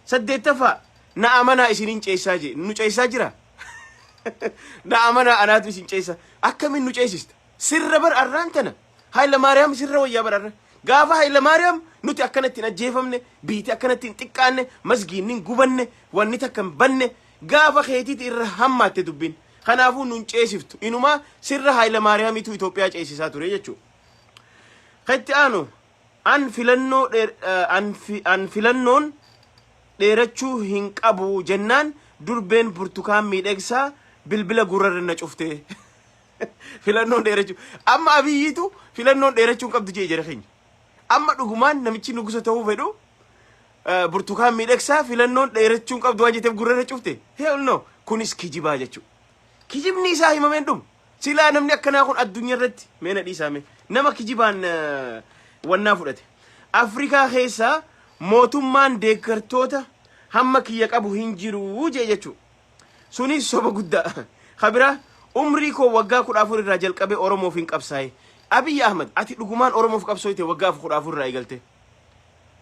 Speaker 1: Saddeettaffaa na amanaa isinin ceessaa jee nu ceessaa jira. na amanaa anaatu isin ceessa akkamiin nu ceesista sirra bar arraan tana haila maariyaam sirra wayyaa bar arra gaafa haila maariyaam nuti akkanatti hin ajjeefamne biiti akkanatti hin xiqqaanne masgiinni hin gubanne wanni takka hin banne Gaafa keetiti irra hammaatte dubbin. Kanaafuu nun ceesiftu. Inumaa sirra Haayilamaariyaamiitu Itoophiyaa ceesisaa ture jechuu. Ka itti aanu an filannoo dheer an fi an filannoon dheerachuu hin qabu jennaan durbeen Burtukaan Miidhegsaa bilbila gurrarra na cufte. Filannoon dheerachuu amma Abiyyiitu filannoon dheerachuu hin qabdu jee jara keenya. Amma dhugumaan namichi nugusa ta'uu fedhu eh, burtukaan miidhagsaa filannoon dheerachuun qabdu waan jetteef gurra irra cufte. Hell no. Kunis kijibaa jechuudha. Kijibni isaa himameen dhumu. Silaa namni akkanaa kun addunyaa irratti meena dhiisaame. Nama kijibaan eh, wannaa fudhate. Afrikaa keessaa mootummaan deeggartoota hamma kiyya qabu hin jiru jee jechuudha. Sunis soba guddaa. Ka biraa umrii koo waggaa kudha afur irraa jalqabee Oromoof hin qabsaa'e. Abiy Ahmed ati dhugumaan Oromoof qabsooyte waggaa af- kudha afur irraa eegalte.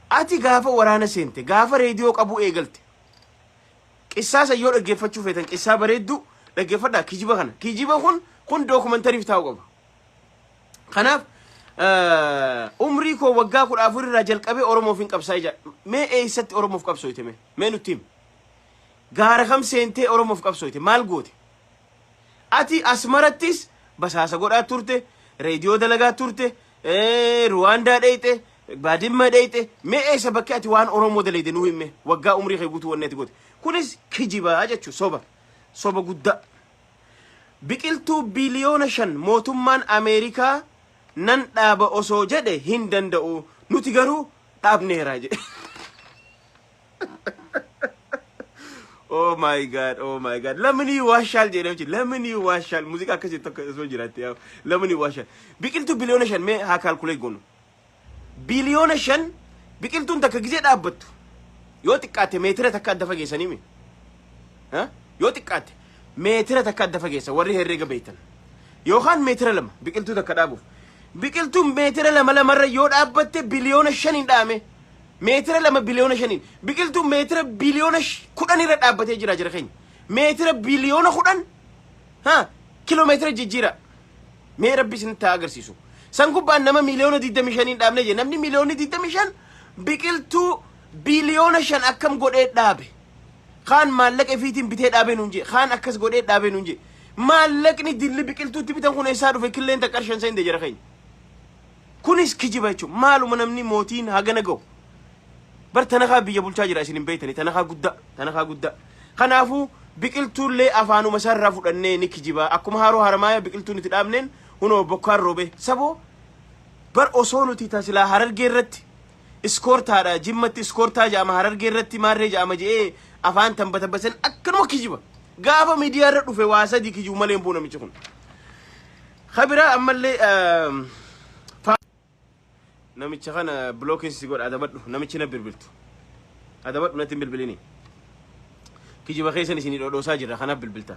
Speaker 1: Ati gaafa waraana seente, gaafa reediyoo qabuu eegalte. Qissaa san yoo dhaggeeffachuu feetan qissaa bareedduu dhaggeeffadhaa kijiba kana. Kijiba kun kun dookumantariif taa'u qaba. Kanaaf eh, umrii koo waggaa kudha afur irraa jalqabee Oromoof hin qabsaa'e jedha. Mee eessatti Oromoof qabsooyte mee? Mee nutti himi. Gaara kam seentee Oromoof qabsooyte? Maal goote? Ati Asmarattis basaasa godhaa turte, reediyoo dalagaa turte, Ruwaandaa dheyxe, Baadimma dheyxe, mee eessa bakki ati waan Oromoo daleyde nuu himme waggaa umrii kee guutuu wanni ati goote. Kunis kijiba jechu soba. Soba guddaa. Biqiltuu biliyoona shan mootummaan Ameerikaa nan dhaaba osoo jedhe hin danda'u. Nuti garuu dhaabneera jedhe. Oh my god, oh my god. Lamni waashaal jedhee hojii. Lamni waashaal. Muuziqaa akkasii tokko osoo jiraatte yaa. Lamni waashaal. Biqiltuu biliyoona shan mee haa kaalkulee goonu. Biliyoona shan biqiltuun takka gizee dhaabbattu. Yoo xiqqaatte meetira takka adda fageessanii mi? Ha? Yoo xiqqaatte meetira takka adda fageessa warri herreega beektan. Yookaan meetira lama biqiltuu takka dhaabuuf. Biqiltuun meetira lama lamarra yoo dhaabbatte biliyoona shan hin dhaame. Meetira lama biliyoona shaniin. Biqiltuun meetira biliyoona sh- kudhan irra dhaabbatee jira jira keenya. Meetira biliyoona kudhan ha kiloomeetira jijjiira. Mee rabbi isinitti haa agarsiisu. San gubbaan nama miliyoona 25 dhaabne jee namni miliyoonni 25 biqiltuu biliyoona shan akkam godhee dhaabe. Kaan maallaqa ifiitiin bitee dhaabee nuun jee kaan akkas godhee dhaabee nuun jee. Maallaqni dilli biqiltuutti bitan kun eessaa dhufe killeen takka shan seente jira keenya. Kunis kijiba jechuun maaluma namni mootiin hagana gahu. Bar tanakaa biyya bulchaa jira isin hin beektanii tanakaa guddaa tanakaa guddaa. Kanaafuu biqiltuullee afaanuma isaarraa fudhannee ni kijibaa akkuma haaroo haramaaya biqiltuun itti dhaabneen hunoo bokkaan roobee saboo bar osoo nuti tasilaa harargee irratti iskoortaadha jimmatti iskoortaa ja'ama harargee irratti maarree ja'ama je'ee afaan tanbatabbasan akkanuma kijiba gaafa miidiyaa irra dhufe waa sadii kijibu malee hin bu'u namichi kun. Ka biraa ammallee ehm, fa- namicha kana bilookiin si godha adabadhu namichi na bilbiltu adabadhu natti hin bilbilini kijiba keessan isin dhodhoosaa jirra kanaaf bilbilta.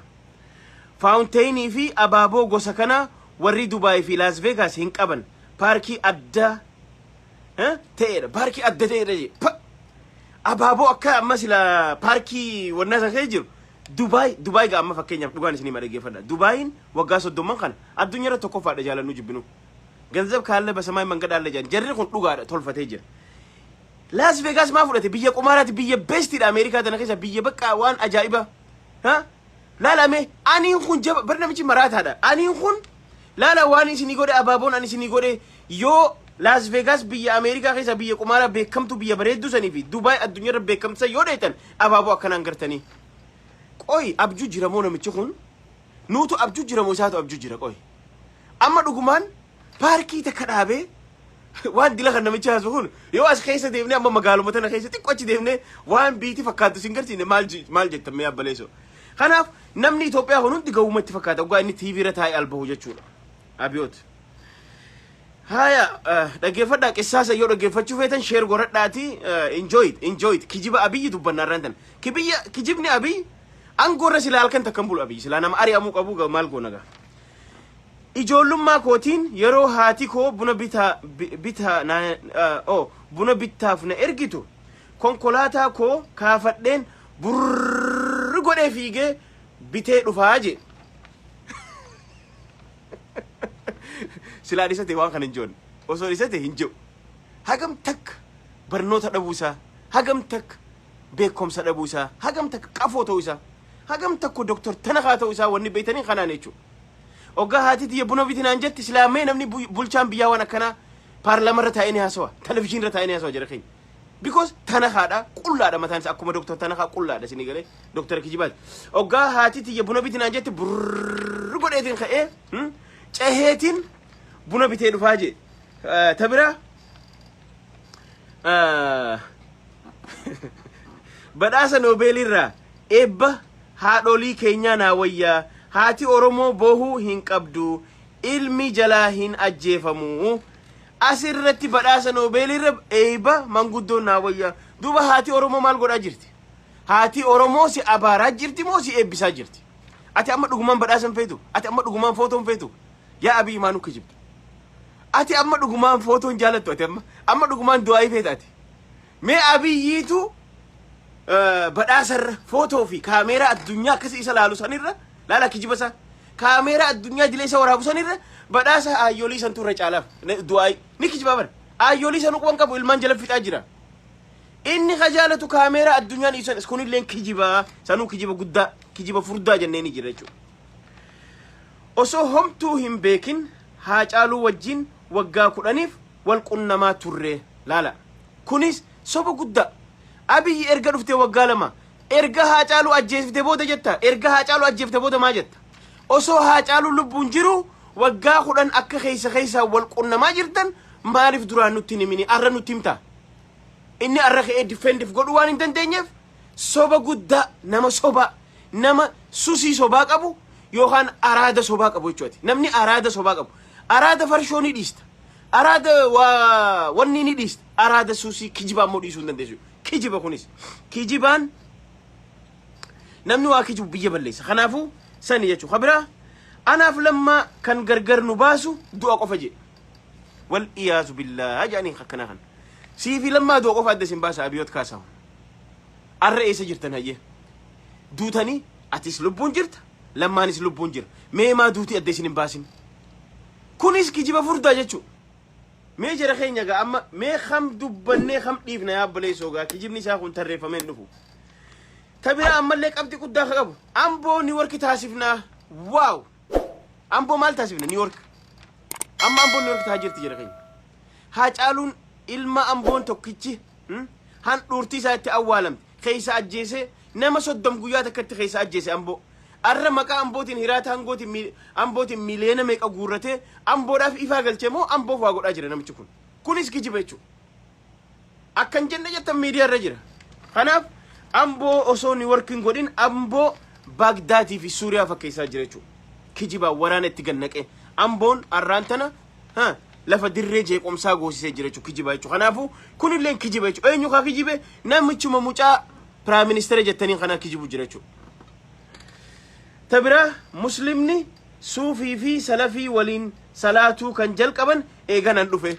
Speaker 1: Faawunteenii fi abaaboo gosa kana warri Dubaay fi Laas Veegaas hin qaban paarkii adda eh, ta'edha paarkii adda ta'edha jedhe. Pa- abaaboo akka amma sila paarkii wannaa san keessa jiru Dubai Dubai ga amma fakkeenyaaf dhugaan isinii ma dhageeffadha. Dubaayiin waggaa soddomman kana addunyaa irra tokkoffaadha jaalannuu jibbinuu. Ganzab kaalle basamaay mangadaalle jedhan jarri kun dhugaadha tolfatee jira. Laas Veegaas maa fudhate biyya qumaaraati biyya beestiidha Ameerikaa tana keessa biyya bakka waan ajaa'ibaa. Ha? Laala mee aniin kun jaba bar namichi maraataadha. Aniin kun laala waan isinii godhe abaaboon ani isinii godhe yoo Laas Veegaas biyya Ameerikaa keessa biyya qumaaraa beekamtu biyya bareedduu sanii fi Dubaay addunyaa irra beekamtu san yoo dheetan Abaaboo akkanaan gartanii. Qoy abjuu jira moo namichi kun? Nuutu abjuu jira moo isaatu abjuu jira qoy. Amma dhugumaan paarkii takka dhaabee waan dila kan namichi haasu kun yoo as keessa deemnee amma magaaluma tana keessa xiqqoo achi deemnee waan biiti fakkaatu sin garsiine maal ji- maal jettan mee abbaleeso. Kanaaf namni Itoophiyaa kun hundi gawwumatti fakkaata dhugaa inni TV irra taa'ee albahu jechuudha. Abiyoot. Haya dhaggeeffadhaa qissaa sayyoo dhaggeeffachuu feetan sheer goradhaati enjoy it enjoy it kijiba abiyyi dubbanna irraan tan kibiyya kijibni abiy aangoo irra silaa halkan takkan bulu abiy silaa nama ari'amuu qabu ga- maal goona gaa ijoollummaa kootiin yeroo haati koo buna bitaa bi- bitaa na o buna bittaaf na ergitu konkolaataa koo kaafadheen burr godhee fiigee bitee dhufaa jee Silaa dhisate waan kana hin joon. Osoo dhisate hin jiru. Hagam takka barnoota dhabuu isaa, hagam takka beekumsa dhabuu isaa, hagam takka qafoo ta'uu isaa, hagam takka doktor tanakaa ta'uu isaa wanni beeytanii kanaan jechuudha. Oggaa haati tiyya buna biti naan jetti silaa mee namni bulchaan biyyaa waan akkanaa paarlaamarra taa'ee ni haasawa, televizyiinirra taa'ee ni haasawa jira keenya. because tanakaadha qullaadha mataan isaa akkuma doktar tanakaa qullaadha isinii galee doktar kijibaati oggaa haati tiyya buna biti naan jette burr godheetiin ka'ee hmm, ceheetiin buna bitee dhufaa jee Eh, ta biraa eh, badhaasa noobeeliirraa eebba haadholii keenyaa naa wayyaa haati oromoo boohuu hin qabdu ilmi jalaa hin ajjeefamu As irratti badhaasa Noobeelii irra eeyba manguddoon naa wayyaa. Duuba haati Oromoo maal godhaa jirti? Haati Oromoo si abaaraa jirti moo si eebbisaa jirti? Ati amma dhugumaan badhaasa hin feetu? Ati amma dhugumaan footoo hin feetu? Yaa Abiy maa nu kijibda? Ati amma dhugumaan footoo hin jaalattu ati amma? Amma dhugumaan du'aayii feeta ati? Mee Abiyyiitu badhaasa irra footoo fi kaameeraa addunyaa akkasii isa laalu san irra laala kijiba isaa kaameeraa addunyaa idilee isa waraabu san irra badhaasa aayyoolii santu irra caalaaf du'aayi ni kijibaa bara aayyoolii san uquban qabu ilmaan jala fixaa jira inni ka jaalatu kaameeraa addunyaan ibsan is kunilleen kijibaa sanuu kijiba guddaa kijiba furdaa jennee ni jira jechuudha osoo homtuu hin beekin haacaaluu wajjin waggaa kudhaniif wal qunnamaa turre laala kunis soba guddaa abiyyi erga dhufte waggaa lama erga haacaaluu ajjeefte booda jetta erga haacaaluu ajjeefte booda maa jetta osoo haacaaluu lubbuun jiru waggaa kudhan akka keessa keessaa wal qunnamaa jirtan maaliif duraan nutti hin himini arra nutti himta inni arra ka'ee difeendif godhuu waan hin dandeenyeef soba guddaa nama sobaa nama susii sobaa qabu yookaan araada sobaa qabu jechuudha. Namni araada sobaa qabu araada farshoo ni dhiista. Araada waa wanni ni dhiista. Araada susii kijibaa immoo dhiisuu hin dandeessu. Kijiba kunis kijibaan namni waa kijibu biyya balleessa. Kanaafuu sani jechuudha. Kabiraa anaaf lammaa kan gargar nu baasu du'a qofa jedhe. wal iyaazu billaa jedhaniin akkanaa kan sii fi lammaa du'a qofa adda isin baasa abiyoot kaasaa arra eessa jirtan hayyee duutanii atis lubbuun jirta lammaanis lubbuun jira mee maa duutii adda isin hin baasin kunis kijiba furdaa jechuu mee jara keenya gaa amma mee kam dubbannee kam dhiifna yaa obboleessoo gaa kijibni isaa kun tarreeffamee hin dhufu tabiraa ammallee qabxii guddaa ka qabu amboo niiworki taasifnaa waaw amboo maal taasifna niiworki Amma Amboon New York tahaa jirti jira keenya. Haacaaluun ilma Amboon tokkichi hmm, handhuurtii isaa itti awwaalamte keessa ajjeesee nama soddom guyyaa takkatti keessa ajjeese Amboo. Arra maqaa Ambootiin hiraata hangootiin mi- Ambootiin miliyoona meeqa guurratee Amboodhaaf ifaa galchee moo Amboof waa godhaa jira namichi kun. Kunis kijiba jechuudha. Akka hin jenne jettan miidiyaa irra jira. Kanaaf Amboo osoo ni work hin godhin Amboo Baagdaatii fi Suuriyaa fakkeessaa jira jechuudha. Kijibaa waraana itti gannaqee Amboon har'aan tana ha, lafa dirree jeequmsaa goosisee jira jechuudha kijibaa jechuudha. Kanaafuu kunillee kijiba jechuudha. Eenyu kaa kijibe namichuma mucaa piraayim ministeera jettaniin kanaa kijibu jira jechuudha. Ta biraa muslimni suufii fi salafii waliin salaatuu kan jalqaban eeganan dhufe.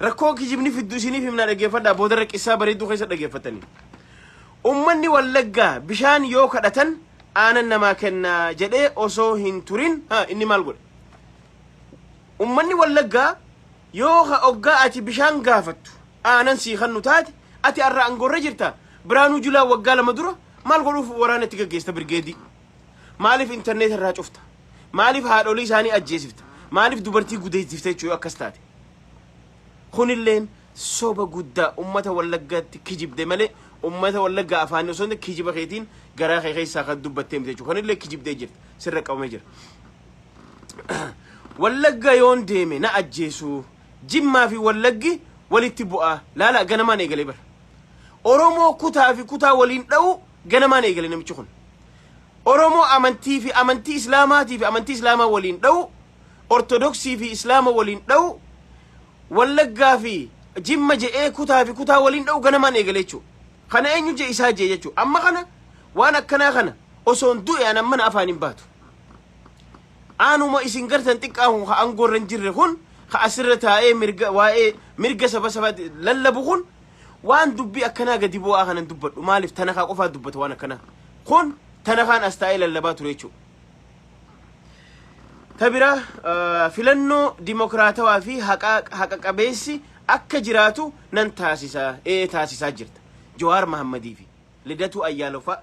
Speaker 1: Rakkoo kijibni fiddu isiniif himnaa dhaggeeffadhaa boodarra qissaa bareedduu keessa dhaggeeffattanii. Ummanni Wallaggaa bishaan yoo kadhatan aanan namaa kennaa jedhee osoo hin turin ha inni maal godhe? Ummanni Wallaggaa yoo ka oggaa ati bishaan gaafattu aanan sii kannu taate ati arra angorra jirta Biraanuu Julaa waggaa lama dura maal godhuuf waraana itti gaggeesta birgeedii? Maaliif intarneeta irraa cufta? Maaliif haadholii isaanii ajjeesifta? Maaliif dubartii gudeessifta jechuun akkas taate? Kunilleen soba guddaa ummata wallaggaatti kijibde malee ummata wallaggaa afaanii osoo hin kijiba keetiin garaa kee keessaa kan dubbattee miti jechuudha. Kunillee kijibdee jirti. Sirra qabamee jira. Wallagga yoon deeme na ajjeesuu. Jimmaa fi wallaggi walitti bu'aa. Laala ganamaan eegalee bara. Oromoo kutaa fi kutaa waliin dha'uu Ganamaan eegale namichi kun. Oromoo amantii fi amantii Islaamaatii fi amantii Islaamaa waliin dha'u, Ortodoksii fi Islaama waliin dha'u, Wallaggaa fi Jimma je'ee kutaa fi kutaa waliin dha'u ganamaan eegale jechuudha. Kana eenyu je'e isaa je'e jechuudha. Amma kana waan akkanaa kana osoon du'e an ammana afaan hin baatu. Aanuma isin gartan xiqqaa kun ka angoorra hin jirre kun ka asirra taa'ee mirga waa'ee mirga saba sabaatti lallabu kun Waan dubbii akkanaa gadi bu'aa kanan dubbadhu maaliif tanakaa qofaa dubbata waan akkanaa. Kun tanakaan as taa'ee lallabaa ture jechuudha. Ta biraa eh, filannoo dimokiraatawaa fi haqa haqa qabeessi akka jiraatu nan taasisa ee taasisaa jirta. Jawaar Mahammadii fi Lidatuu Ayyaaloo fa'a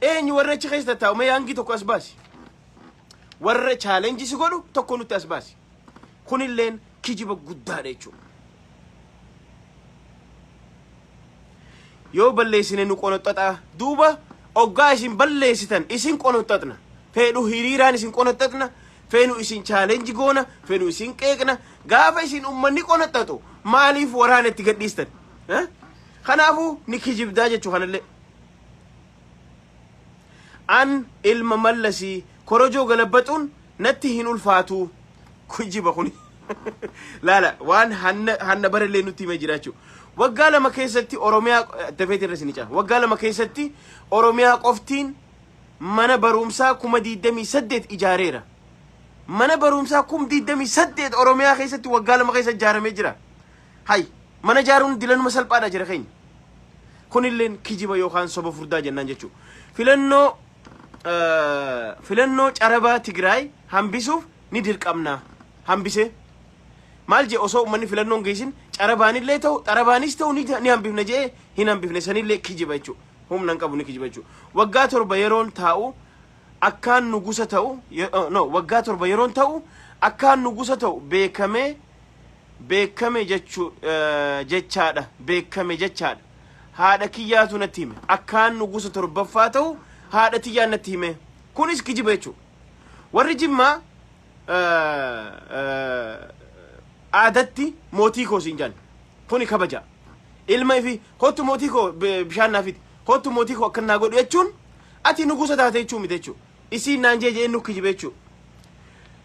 Speaker 1: Eenyu warra achi keessa taa'u mee yaangii tokko as baasi. Warra chaalenjii si godhu tokko nutti as baasi. Kunilleen kijiba guddaadha jechuudha. Yoo balleessine nu qonoxxaxaa duuba oggaa isin balleessitan isin qonoxxaxna. Feedhu hiriiraan isin qonoxxaxna. Feenu isin chaalenji goona. Feenu isin qeeqna. Gaafa isin ummanni qonoxxaxu maaliif waraana itti gadhiistan? Eh? Kanaafuu ni kijibdaa jechuu kanallee. An ilma mallasi korojoo galabbaxuun natti hin ulfaatuu. Kujiba kuni. Laala waan hanna hanna barellee nutti himee jiraachuu. Waggaa lama keessatti Oromiyaa dafeeti irra sini caa. Waggaa lama keessatti Oromiyaa qoftiin mana barumsaa kuma 28 ijaareera. Mana barumsaa kum 28 Oromiyaa keessatti waggaa lama keessa ijaaramee jira. Hay mana ijaaruun dilanuma salphaadha jira keenya. Kunilleen kijiba yookaan soba furdaa jennaan jechuudha. Filannoo filannoo carabaa Tigraay hambisuuf ni dirqamna. Hambisee. Maal jee osoo uummanni filannoon geessin carabaanillee ta'u xarabaanis ta'u ni hambifna jee hin hambifne sanillee kijiba jechuudha. Humna hin qabu ni kijiba jechuudha. Waggaa torba yeroon taa'u akkaan nugusa ta'u no waggaa torba yeroon ta'u akkaan nugusa ta'u beekamee beekkame jechu jechaadha beekkame jechaadha haadha kiyyaatu natti hime akkaan nugusa torbaffaa ta'u haadha tiyyaan natti hime kunis kijiba jechuu warri jimmaa aadatti mootii koo siin jedhan kuni kabaja ilma ifi kottu mootii koo bishaan naafiti kottu mootii koo akkan naa godhu jechuun ati nugusa taate jechuu miti jechuu isiin naan jee jee nukki jibe jechuu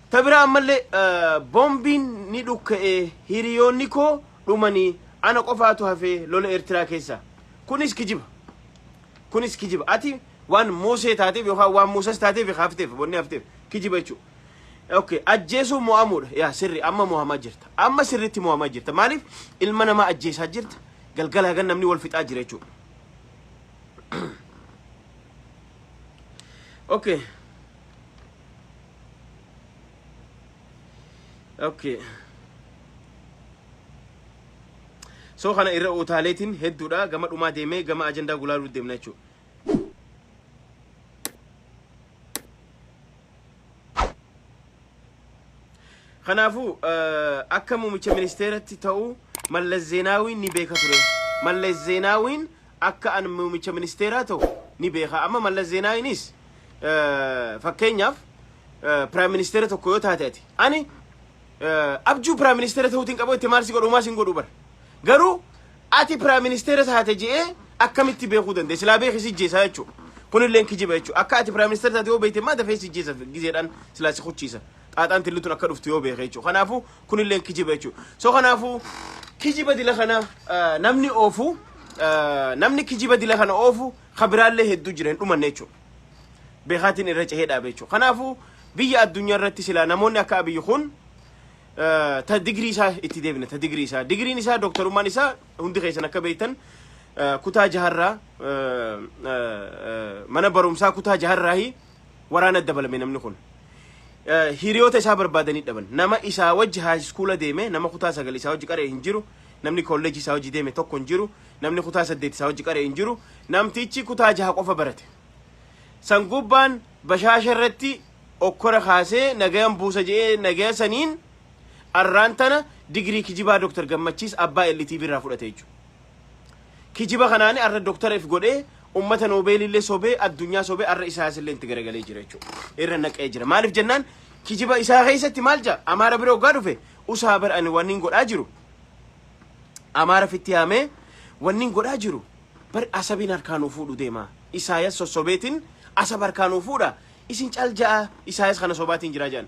Speaker 1: ta biraa ammallee bombiin ni dhukka'e hiriyoonni koo dhumanii ana qofaatu hafee lola eertiraa keessa kunis kijiba kunis kijiba ati waan muusee taateef yookaan waan muusas taateef hafteef bonni hafteef kijiba jechuu Okay, ajjeesuu mo'amuudha. Yaa sirri amma mo'amaa jirta. Amma sirriitti mo'amaa jirta. Maaliif ilma namaa ajjeesaa jirta? Galgala hagan namni wal fixaa jira jechuudha. Okay. Okay. So kana irra utaaleetiin hedduudha gama dhumaa deemee gama ajandaa gulaaluu deemna jechuudha. Kanaafuu eh, akka muummicha ministeeratti ta'u Mallas Zeenaawiin ni beeka ture. Mallas Zeenaawiin akka an muumicha ministeeraa ta'u ni beeka. Amma Mallas Zeenaayinis fakkeenyaaf piraayim ministeera tokko yoo taate ati ani abjuu piraayim ministeera ta'uutiin qabu itti maal si godhu maal si hin godhu bara. Garuu ati piraayim ministeera taate je'ee akkamitti beekuu dandeenya? Silaa beeki si jeesaa jechuudha. Kunillee kijiba jechuudha. Akka ati piraayim ministeera taate yoo beekte immoo dafee si jeesa gizeedhaan silaa si kuchiisa. xaaxaan tilli tun akka dhuftu yoo beeke jechuudha. Kanaafuu kunilleen kijiba jechuudha. So kanaafuu kijiba dila kana eh, namni oofu eh, namni kijiba dila kana oofu kabiraallee hedduu jira hin dhumanne jechuudha. Beekaatiin irra cehee dhaabe jechuudha. Kanaafuu biyya addunyaa irratti silaa namoonni akka abiyyi kun eh, ta digirii isaa itti deebina ta digirii isaa digiriin isaa dooktarummaan isaa hundi keessan akka beektan eh, kutaa jaharraa eh, eh, eh, mana barumsaa kutaa jaharraahi waraana dabalame namni kun. Eh, Hiriyoota isaa barbaadanii dhaban. Nama isaa wajji haayiskuula deeme, nama kutaa sagal isaa wajji qaree hin jiru, namni kolleejii isaa wajji deeme tokko hin jiru, namni kutaa saddeet isaa wajji qaree hin jiru, namtichi kutaa jaha qofa barate. San gubbaan bashaasha irratti okkora kaasee nagayan buusa je'ee nagaya saniin arraan tana digirii kijibaa Dr. Gammachiis abbaa LTV irraa fudhate jechuudha. Kijiba kanaani arra Dr. F godhee ummata Nobel illee sobee addunyaa sobee arra Isaayas illee itti garagalee jira jechuudha. Irra naqee jira. Maaliif jennaan kijiba isaa keessatti maal jaa Amaara bira hoggaa dhufe usaa bar ani wanniin godhaa jiru Amaara fitti yaamee wanniin godhaa jiru bar asabiin harkaa nuu fuudhu deema. Isaayas sossobeetiin asab harkaa nuu fuudha. Isin cal ja'a Isaayas kana sobaatiin jira jedhan.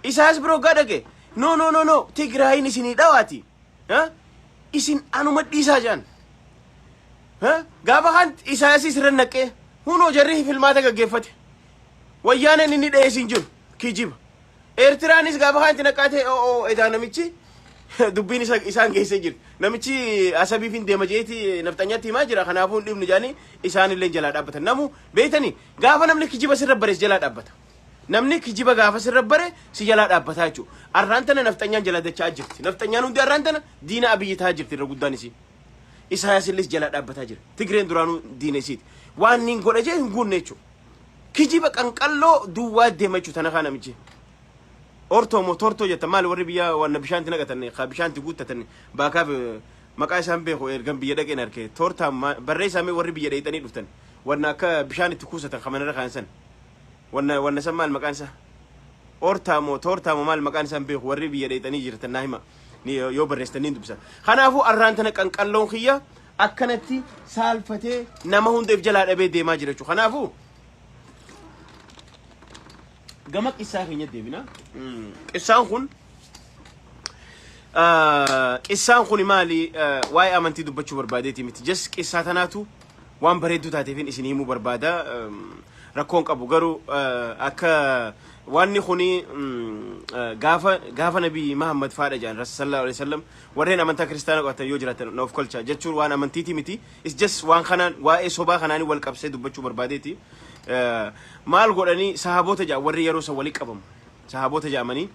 Speaker 1: Isaayas bira hoggaa dhaqe no no no no Tigraayiin isinii dhawaati. Eh? Isin anuma dhiisaa jaan. Eh? Gaafa kan Isaayasiis irra naqee hunoo jarri filmaata gaggeeffate. Wayyaaneen inni dhahee siin jiru kijiba. Eertiraanis gaafa kan itti naqaate oo edaa namichi dubbiin isa isaan geessee jira. Namichi asabiif hin deema jeeti nafxanyaatti himaa jira kanaafuu hin dhibnu jaanii isaanillee jalaa dhaabbatan. Namu beektanii gaafa namni kijiba sirra barees jalaa dhaabbata. Namni kijiba gaafa sirra bare si jalaa dhaabbataa jechuudha. Arraan tana nafxanyaan jala dacha'aa jirti. Nafxanyaan hundi arraan tana diina abiyyi tahaa jirti irra guddaan isii. Isaayaas illee jalaa dhaabbataa jira. Tigreen duraanuu diina isiiti. Waan niin godha jee hin guunne jechuudha. Kijiba qanqalloo duwwaa deema jechuudha tana kaa namichi. Ortoo moo tortoo jettan maali warri biyya waan bishaanti naqatanne kaa bishaanti guuttatanne baakaaf eh, maqaa isaan beeku ergan biyya dhaqeen arke tortaa ma- barreessaa mee warri biyya dheeyxanii dhuftan waan akka bishaan itti kuusatan kamanirra kaan san. Wanna wanna san maal maqaan isaa? Ortaa moo toortaa moo maal maqaan isaan beeku warri biyya dheexanii jirtan naa hima Ni- yoo barreessan niin dubbisa. Kanaafuu arraan tana qanqalloon kiyya akkanatti saalfatee nama hundeef jalaa dhabee deemaa jira jechuudha. Kanaafuu gama qissaa keenya deebina. Mm, Qissaan kun Ah, Qissaan kun maali ah, waa'ee amantii dubbachuu barbaadeeti miti. Just qissaa tanaatu waan bareedduu taateefin isin himuu barbaada. Um, Rakkoon qabu garuu ah, akka waanni kuni mm, ah, gaafa gaafa nabii Mahammad faadha jedhan Rasul sallallahu alaihi wasallam warreen amantaa kiristaana qabatan yoo jiraatan na of kolcha jechuun waan amantiiti miti. It's just waan kanaan waa'ee sobaa kanaanii wal qabsee dubbachuu barbaadeeti. Ah, Maal godhanii sahaabota jedhan warri yeroo san walitti qabamu. sahaabota jedhamanii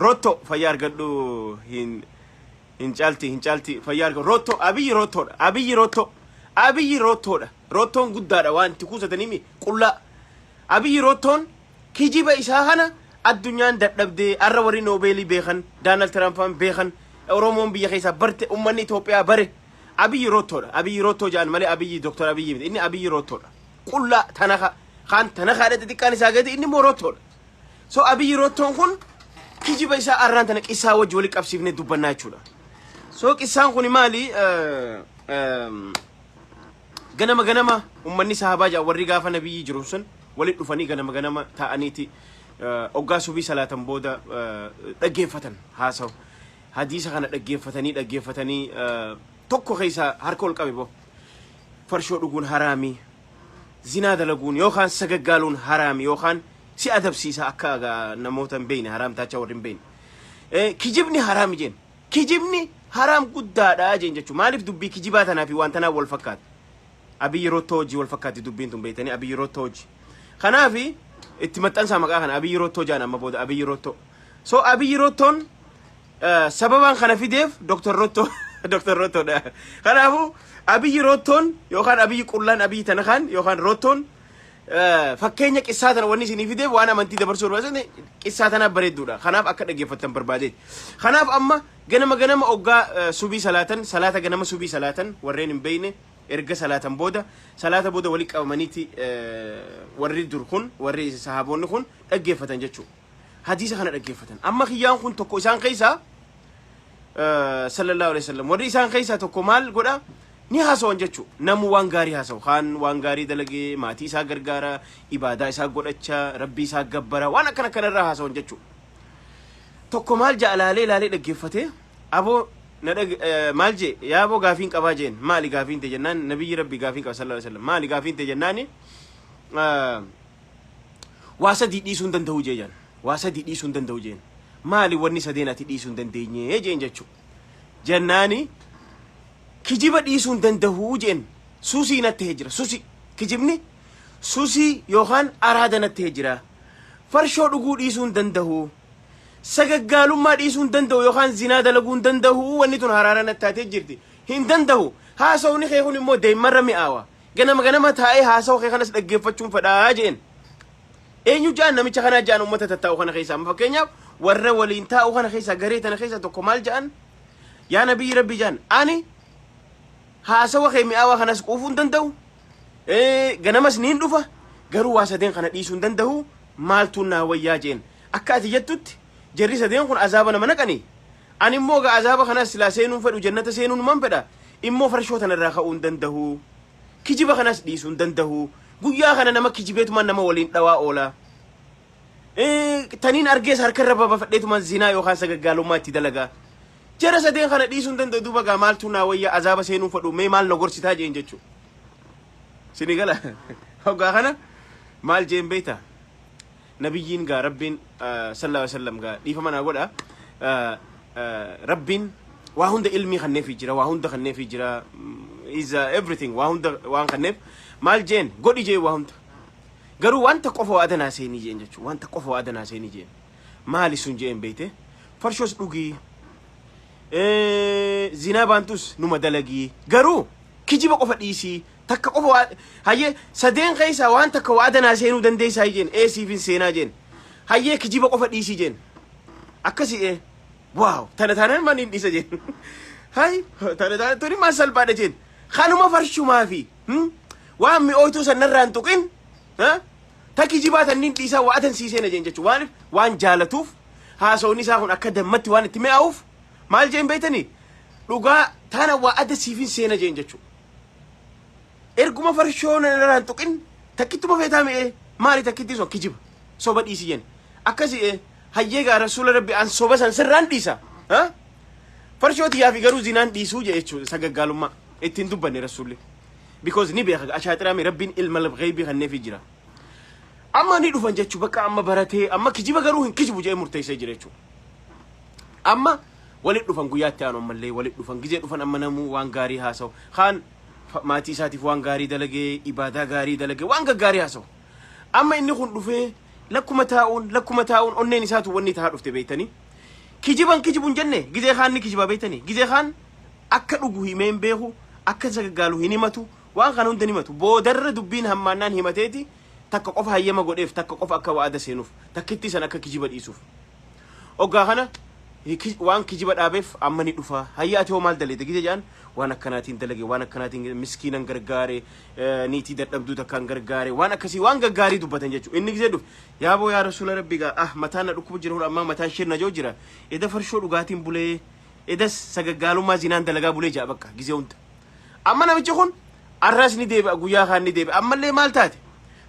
Speaker 1: rotto fayyaa argadhu hin hin caalti hin caalti fayyaa argadhu rotto abiyyi rottoodha abiyyi rotto abiyyi rottoodha rottoon guddaadha waan itti kuusataniimi qullaa abiyyi rottoon kijiba isaa kana addunyaan dadhabdee arra warri noobeelii beekan daanal tiraamfaan beekan oromoon biyya keessaa barte ummanni Itoophiyaa bare abiyyi rottoodha abiyyi rottoo jedhan malee abiyyi doktor abiyyi miti inni abiyyi rottoodha qullaa tanaka kaan tanakaadha xixiqqaan isaa gadi inni immoo rottoodha. So abiyyi rottoon kun kijiba isaa arraan tana qissaa wajji wali qabsiifne dubbannaa jechuudha. So qissaan kun maali? Eh, ehm, ganama ganama ummanni sahabaa jaa warri gaafa nabiyyi jiru sun walitti dhufanii ganama ganama taa'aniiti eh, oggaa subii salaatan booda eh, dhaggeeffatan haasawu. Hadiisa kana dhaggeeffatanii dhaggeeffatanii eh, tokko keessa harka ol qabe boo. farshoo dhuguun haraami, zinaa dalaguun yookaan sagaggaaluun haraami yookaan si adabsiisa akka namoota hin beekne haraam taacha warri hin beekne. Kijibni haraami jeen. Kijibni haraam guddaadha jeen jechuudha. Maaliif dubbii kijibaa tanaa fi waan tanaa wal fakkaata? Abiyyi Rottoo hojii wal fakkaatti dubbiin tun beektanii Abiyyi Rottoo hojii. Kanaaf itti maxxansaa maqaa kana Abiyyi Rottoo jaan amma booda Abiyyi Rottoo. So Abiyyi Rottoon Sababaan kana fideef Dr. Rottoo Dr. Rottoodha. Kanaafuu Abiyyi Rottoon yookaan Abiyyi Qullaan Abiyyi Tanakaan yookaan Rottoon fakkeenya qissaa tana wanni isinii fideef waan amantii dabarsuu barbaadne qissaa tanaaf bareedduudha. Kanaaf akka dhaggeeffattan barbaade. Kanaaf amma ganama ganama oggaa subii salaatan salaata ganama subii salaatan warreen hin beeyne erga salaatan booda salaata booda walitti qabamaniiti warri dur kun warri sahaboonni kun dhaggeeffatan jechuudha. hadiisa kana dhaggeeffatan. Amma kiyyaan kun tokko isaan keessaa eh, sallallahu alaihi wasallam warri isaan keessaa tokko maal godha ni haasawan jechuu namu waan gaarii haasawu kaan waan gaarii dalagee maatii isaa gargaara ibaadaa isaa godhacha rabbii isaa gabbara waan akkana kana irraa haasawan jechuu tokko maal ja'a laalee laalee dhaggeeffate aboo na dhag eh, maal jee yaa aboo gaafiin qabaa jeen maali gaafiin te jennaan nabiyyi rabbii gaafiin qaba sallallahu alaihi wasallam maali gaafiin te jennaani eh, Waa sadii dhiisuu hin danda'u jee jaan. Waa sadii dhiisuu hin danda'u jeen. Maali wanni sadeen ati dhiisuu hin dandeenye jeen jechuu. Jennaani kijiba dhiisuu hin danda'u jeen. Susii natti hee jira. Susi. Kijibni susii yookaan araada natti hee jira. Farshoo dhuguu dhiisuu hin danda'u. Sagaggaalummaa dhiisuu hin danda'u yookaan zinaa dalaguu hin danda'u wanni tun haraara natti taatee jirti. Hin danda'u. Haasawni kee kun immoo deemmarra mi'aawa. Ganama ganama taa'ee haasawa kee kanas dhaggeeffachuun fedhaa jeen. Eenyu ja'an namicha kanaa ja'an uummata tattaa'u kana keessaa. Amma Fakkeenyaaf warra waliin taa'u kana keessaa garee tana keessaa tokko maal ja'an? Yaa nabiyyi rabbi ja'an. Ani haasawa kee mi'aawaa kanas quufuu hin danda'u. Eh, Ganamas niin dhufa. Garuu waa sadeen kana dhiisuu hin danda'u. Maaltu naa wayyaa jeen. Akka ati jettutti jarri sadeen kun azaaba nama naqanii. Ani immoo egaa azaaba kanas silaa seenuu hin fedhu jannata seenuunuman fedha immoo farshoo tana irraa ka'uu hin dandahu kijiba kanas dhiisuu hin dandahu guyyaa kana nama kijibeetuman nama waliin dhawaa oola Eh, taniin argees harka irra babafadheetuman zinaa yookaan sagaggaalummaa itti dalaga jara sadeen kana dhiisuu hin danda'u duuba gaa maaltuu naa wayya azaaba seenuu hin fedhu mee maal na gorsitaa jeen jechuu sini gala hoggaa kana maal jeen beektaa Nabiyyiin gaa Rabbiin sallallahu alaihi wasallam gaa dhiifama naa godha Rabbiin waa hunda ilmii kanneefii jira waa hunda kanneefii jira is uh, everything waa hunda waan kanneef maal jeen godhi jee waa hunda garuu wanta qofa waa adanaa seenii jeen jechuu wanta qofa waa adanaa seenii jeen maali sun jeen beeyte farshoos dhugii zinaa baantus numa dalagii garuu kijiba qofa dhiisii Takka qofa waa hayyee sadeen keessaa waan takka waa danaa seenuu dandeessaa jeen ee siifin seenaa jeen hayyee kijiba qofa dhiisii jeen akkasi ee waaw tana taanaan man hin dhiisa jeen hay tana taanaan tuni maan salphaadha jeen kanuma farshumaa fi hmm? waan mi'ooytuu san narraan tuqin ha? ta kijibaa tanniin dhiisaa waa atan sii seena jeen jechuu waan waan jaalatuuf haasawni isaa kun akka dammatti waan itti mi'aawuuf maal jeen beeytanii dhugaa tana waa adda siifin seena jeen jechuu Erguma farshoo na irraa hin tuqin takkittuma feetaa mi'ee maali takkitti sun kijiba soba dhiisi jenna. Akkasi ee hayyee gaa rasuula rabbi an soba san sirraan dhiisa. Ha? Farshoo tiyyaa fi garuu zinaan dhiisuu jee jechuudha sagaggaalummaa ittiin dubbanne rasuulli. Because ni beeka ashaaxiraami rabbiin ilma labgheeybii kanneefii jira. Amma ni dhufan jechuu bakka amma baratee amma kijiba garuu hin kijibu jee murteessee jira jechuudha. Amma Walitti dhufan guyyaa itti aanu ammallee walitti dhufan gizee dhufan amma namuu waan gaarii haasawu kaan fa- maatii isaatiif waan gaarii dalagee ibaadaa gaarii dalagee waan gaggaarii haasawu amma inni kun dhufee lakkuma taa'uun lakkuma taa'uun onneen isaatu wanni tahaa dhufte beektanii kijiban kijibuun jenne gizee kaan ni kijibaa beektanii gizee kaan akka dhugu himee hin beeku akka isa gaggaalu hin himatu waan kana hunda hin himatu boodarra dubbiin hammaannaan himateeti takka qofa hayyama godheef takka qofa akka wa'ada seenuuf takkitti san akka kijiba dhiisuuf Oggaa kana waan kijiba dhaabeef amma ni dhufa. Hayya ati hoo maal daleete gite jedhan waan akkanaatiin dalage waan akkanaatiin miskiinan gargaare niitii dadhabduu takkaan gargaare waan akkasii waan gaggaarii dubbatan jechuudha. Inni gisee dhufe yaa boo yaa rasuula rabbi gaa ah mataan na dhukkuba jira hura ammaa mataan shirna joo jira eda farshoo dhugaatiin bulee edas sagaggaalummaa zinaan dalagaa bulee ja'a bakka gisee hunda. Amma namichi kun arras ni deebi'a guyyaa kaan ni deebi'a ammallee maal taate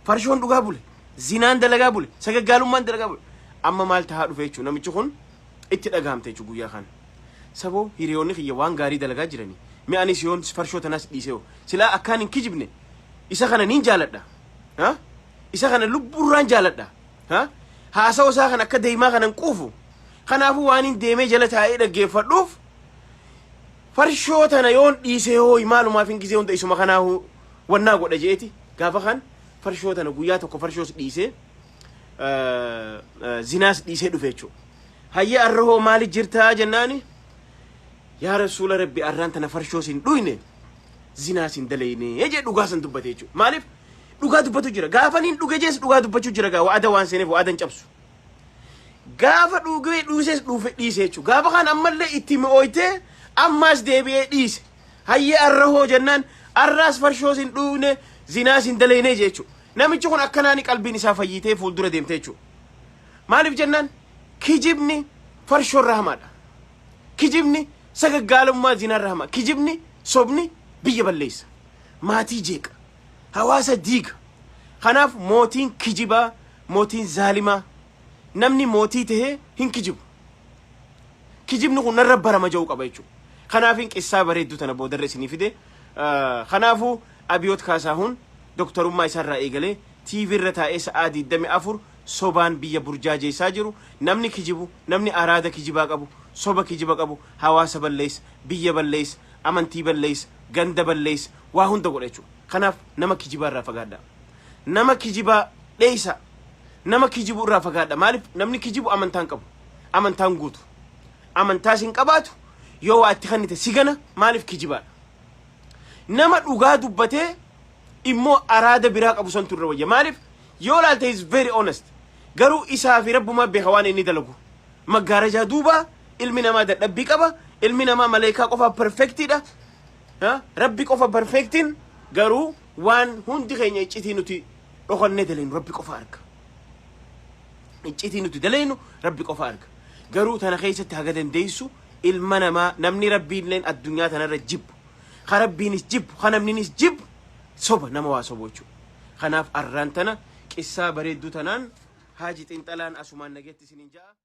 Speaker 1: farshoon dhugaa bule zinaan dalagaa bule sagaggaalummaan dalagaa bule amma maal tahaa dhufe jechuun namichi kun itti dhagahamte jechuun guyyaa kaan. Saboo hiriyoonni kiyya waan gaarii dalagaa jiranii mi anis yoon farshoo tanas dhiisee silaa akkaan hin kijibne isa kana niin jaaladha. Ha? Isa kana lubbuurraan jaaladha. Ha? Haasawa isaa kan akka deemaa kanan quufu. Kanaafuu waan hin deemee jala taa'ee dhaggeeffadhuuf Farshoo tana yoon dhiisee hooyi maalumaafin gizee hunda isuma kanaahu wannaa godha je'eeti gaafa kan farshoo tana guyyaa tokko farshoos dhiisee eh, eh, zinaas dhiisee dhufe jechuudha. Hayyee arra hoo maali jirtaa jennaani yaa rasuula rabbi arraan tana farshoos hin dhuyne zinaas hin dalayne jee dhugaa san dubbate jechuudha. Maaliif dhugaa dubbatu jira gaafaniin dhuge jees dhugaa dubbachuu jira gaa wa'ada waan seeneef wa'adan cabsu. Gaafa dhuugee dhuuses dhuufe dhiise jechuudha. Gaafa kan ammallee itti mi'ooytee ammaas deebi'ee dhiise. Hayyee arra hoo jennaan arraas farshoos hin dhuugne zinaas hin daleynee jechuudha. Namichi kun akkanaani qalbiin isaa fayyitee fuuldura deemte jechuudha. Maaliif jennaan kijibni farshoo irra hamaadha. Kijibni sagaggaalummaa zinaa irra hamaa. Kijibni sobni biyya balleessa. Maatii jeeqa. Hawaasa diiga. Kanaaf mootiin kijibaa, mootiin zaalimaa. Namni mootii tahee hin kijibu. Kijibni kun narra barama ja'uu qaba jechuudha. Kanaafin qissaa bareedduu tana boodarra isinii fide. Ah, Kanaafuu Abiyoot Kaasaahun doktarummaa isaarraa eegalee TV irra taa'ee sa'aa 24 sobaan biyya burjaajeessaa jiru. Namni kijibu, namni araada kijibaa qabu, soba kijiba qabu, hawaasa balleessa, biyya balleessa, amantii balleessa, ganda balleessa, waa hunda godha jechuudha. Kanaaf nama kijibaa irraa fagaadha. Nama kijibaa dheeysa. Nama kijibu irraa fagaadha. Maaliif namni kijibu amantaa hin qabu. Amantaa hin guutu. Amantaas hin qabaatu. Yoo waa itti kennite si gana maaliif kijibaadha. Nama dhugaa dubbatee immoo araada biraa qabu santu irra wayya. Maaliif yoo laalte is very honest. Garuu isaa fi rabbumaa beeka waan inni dalagu. Maggaarajaa duubaa ilmi namaa dadhabbii qaba. Ilmi namaa maleekaa qofaa perfectiidha. Rabbi qofa perfectin garuu waan hundi keenya iccitii nuti dhokannee daleynu rabbi qofa arga. Iccitii nuti daleynu rabbi qofa arga. Garuu tana keessatti haga dandeessu ilma namaa namni rabbiin leen addunyaa tanarra jibbu. Ka rabbiinis jibbu, ka namninis jibbu soba nama waa sobu jechuudha. Kanaaf arraan tana qissaa bareedduu tanaan haaji xinxalaan asumaan nageetti isiniin ja'a.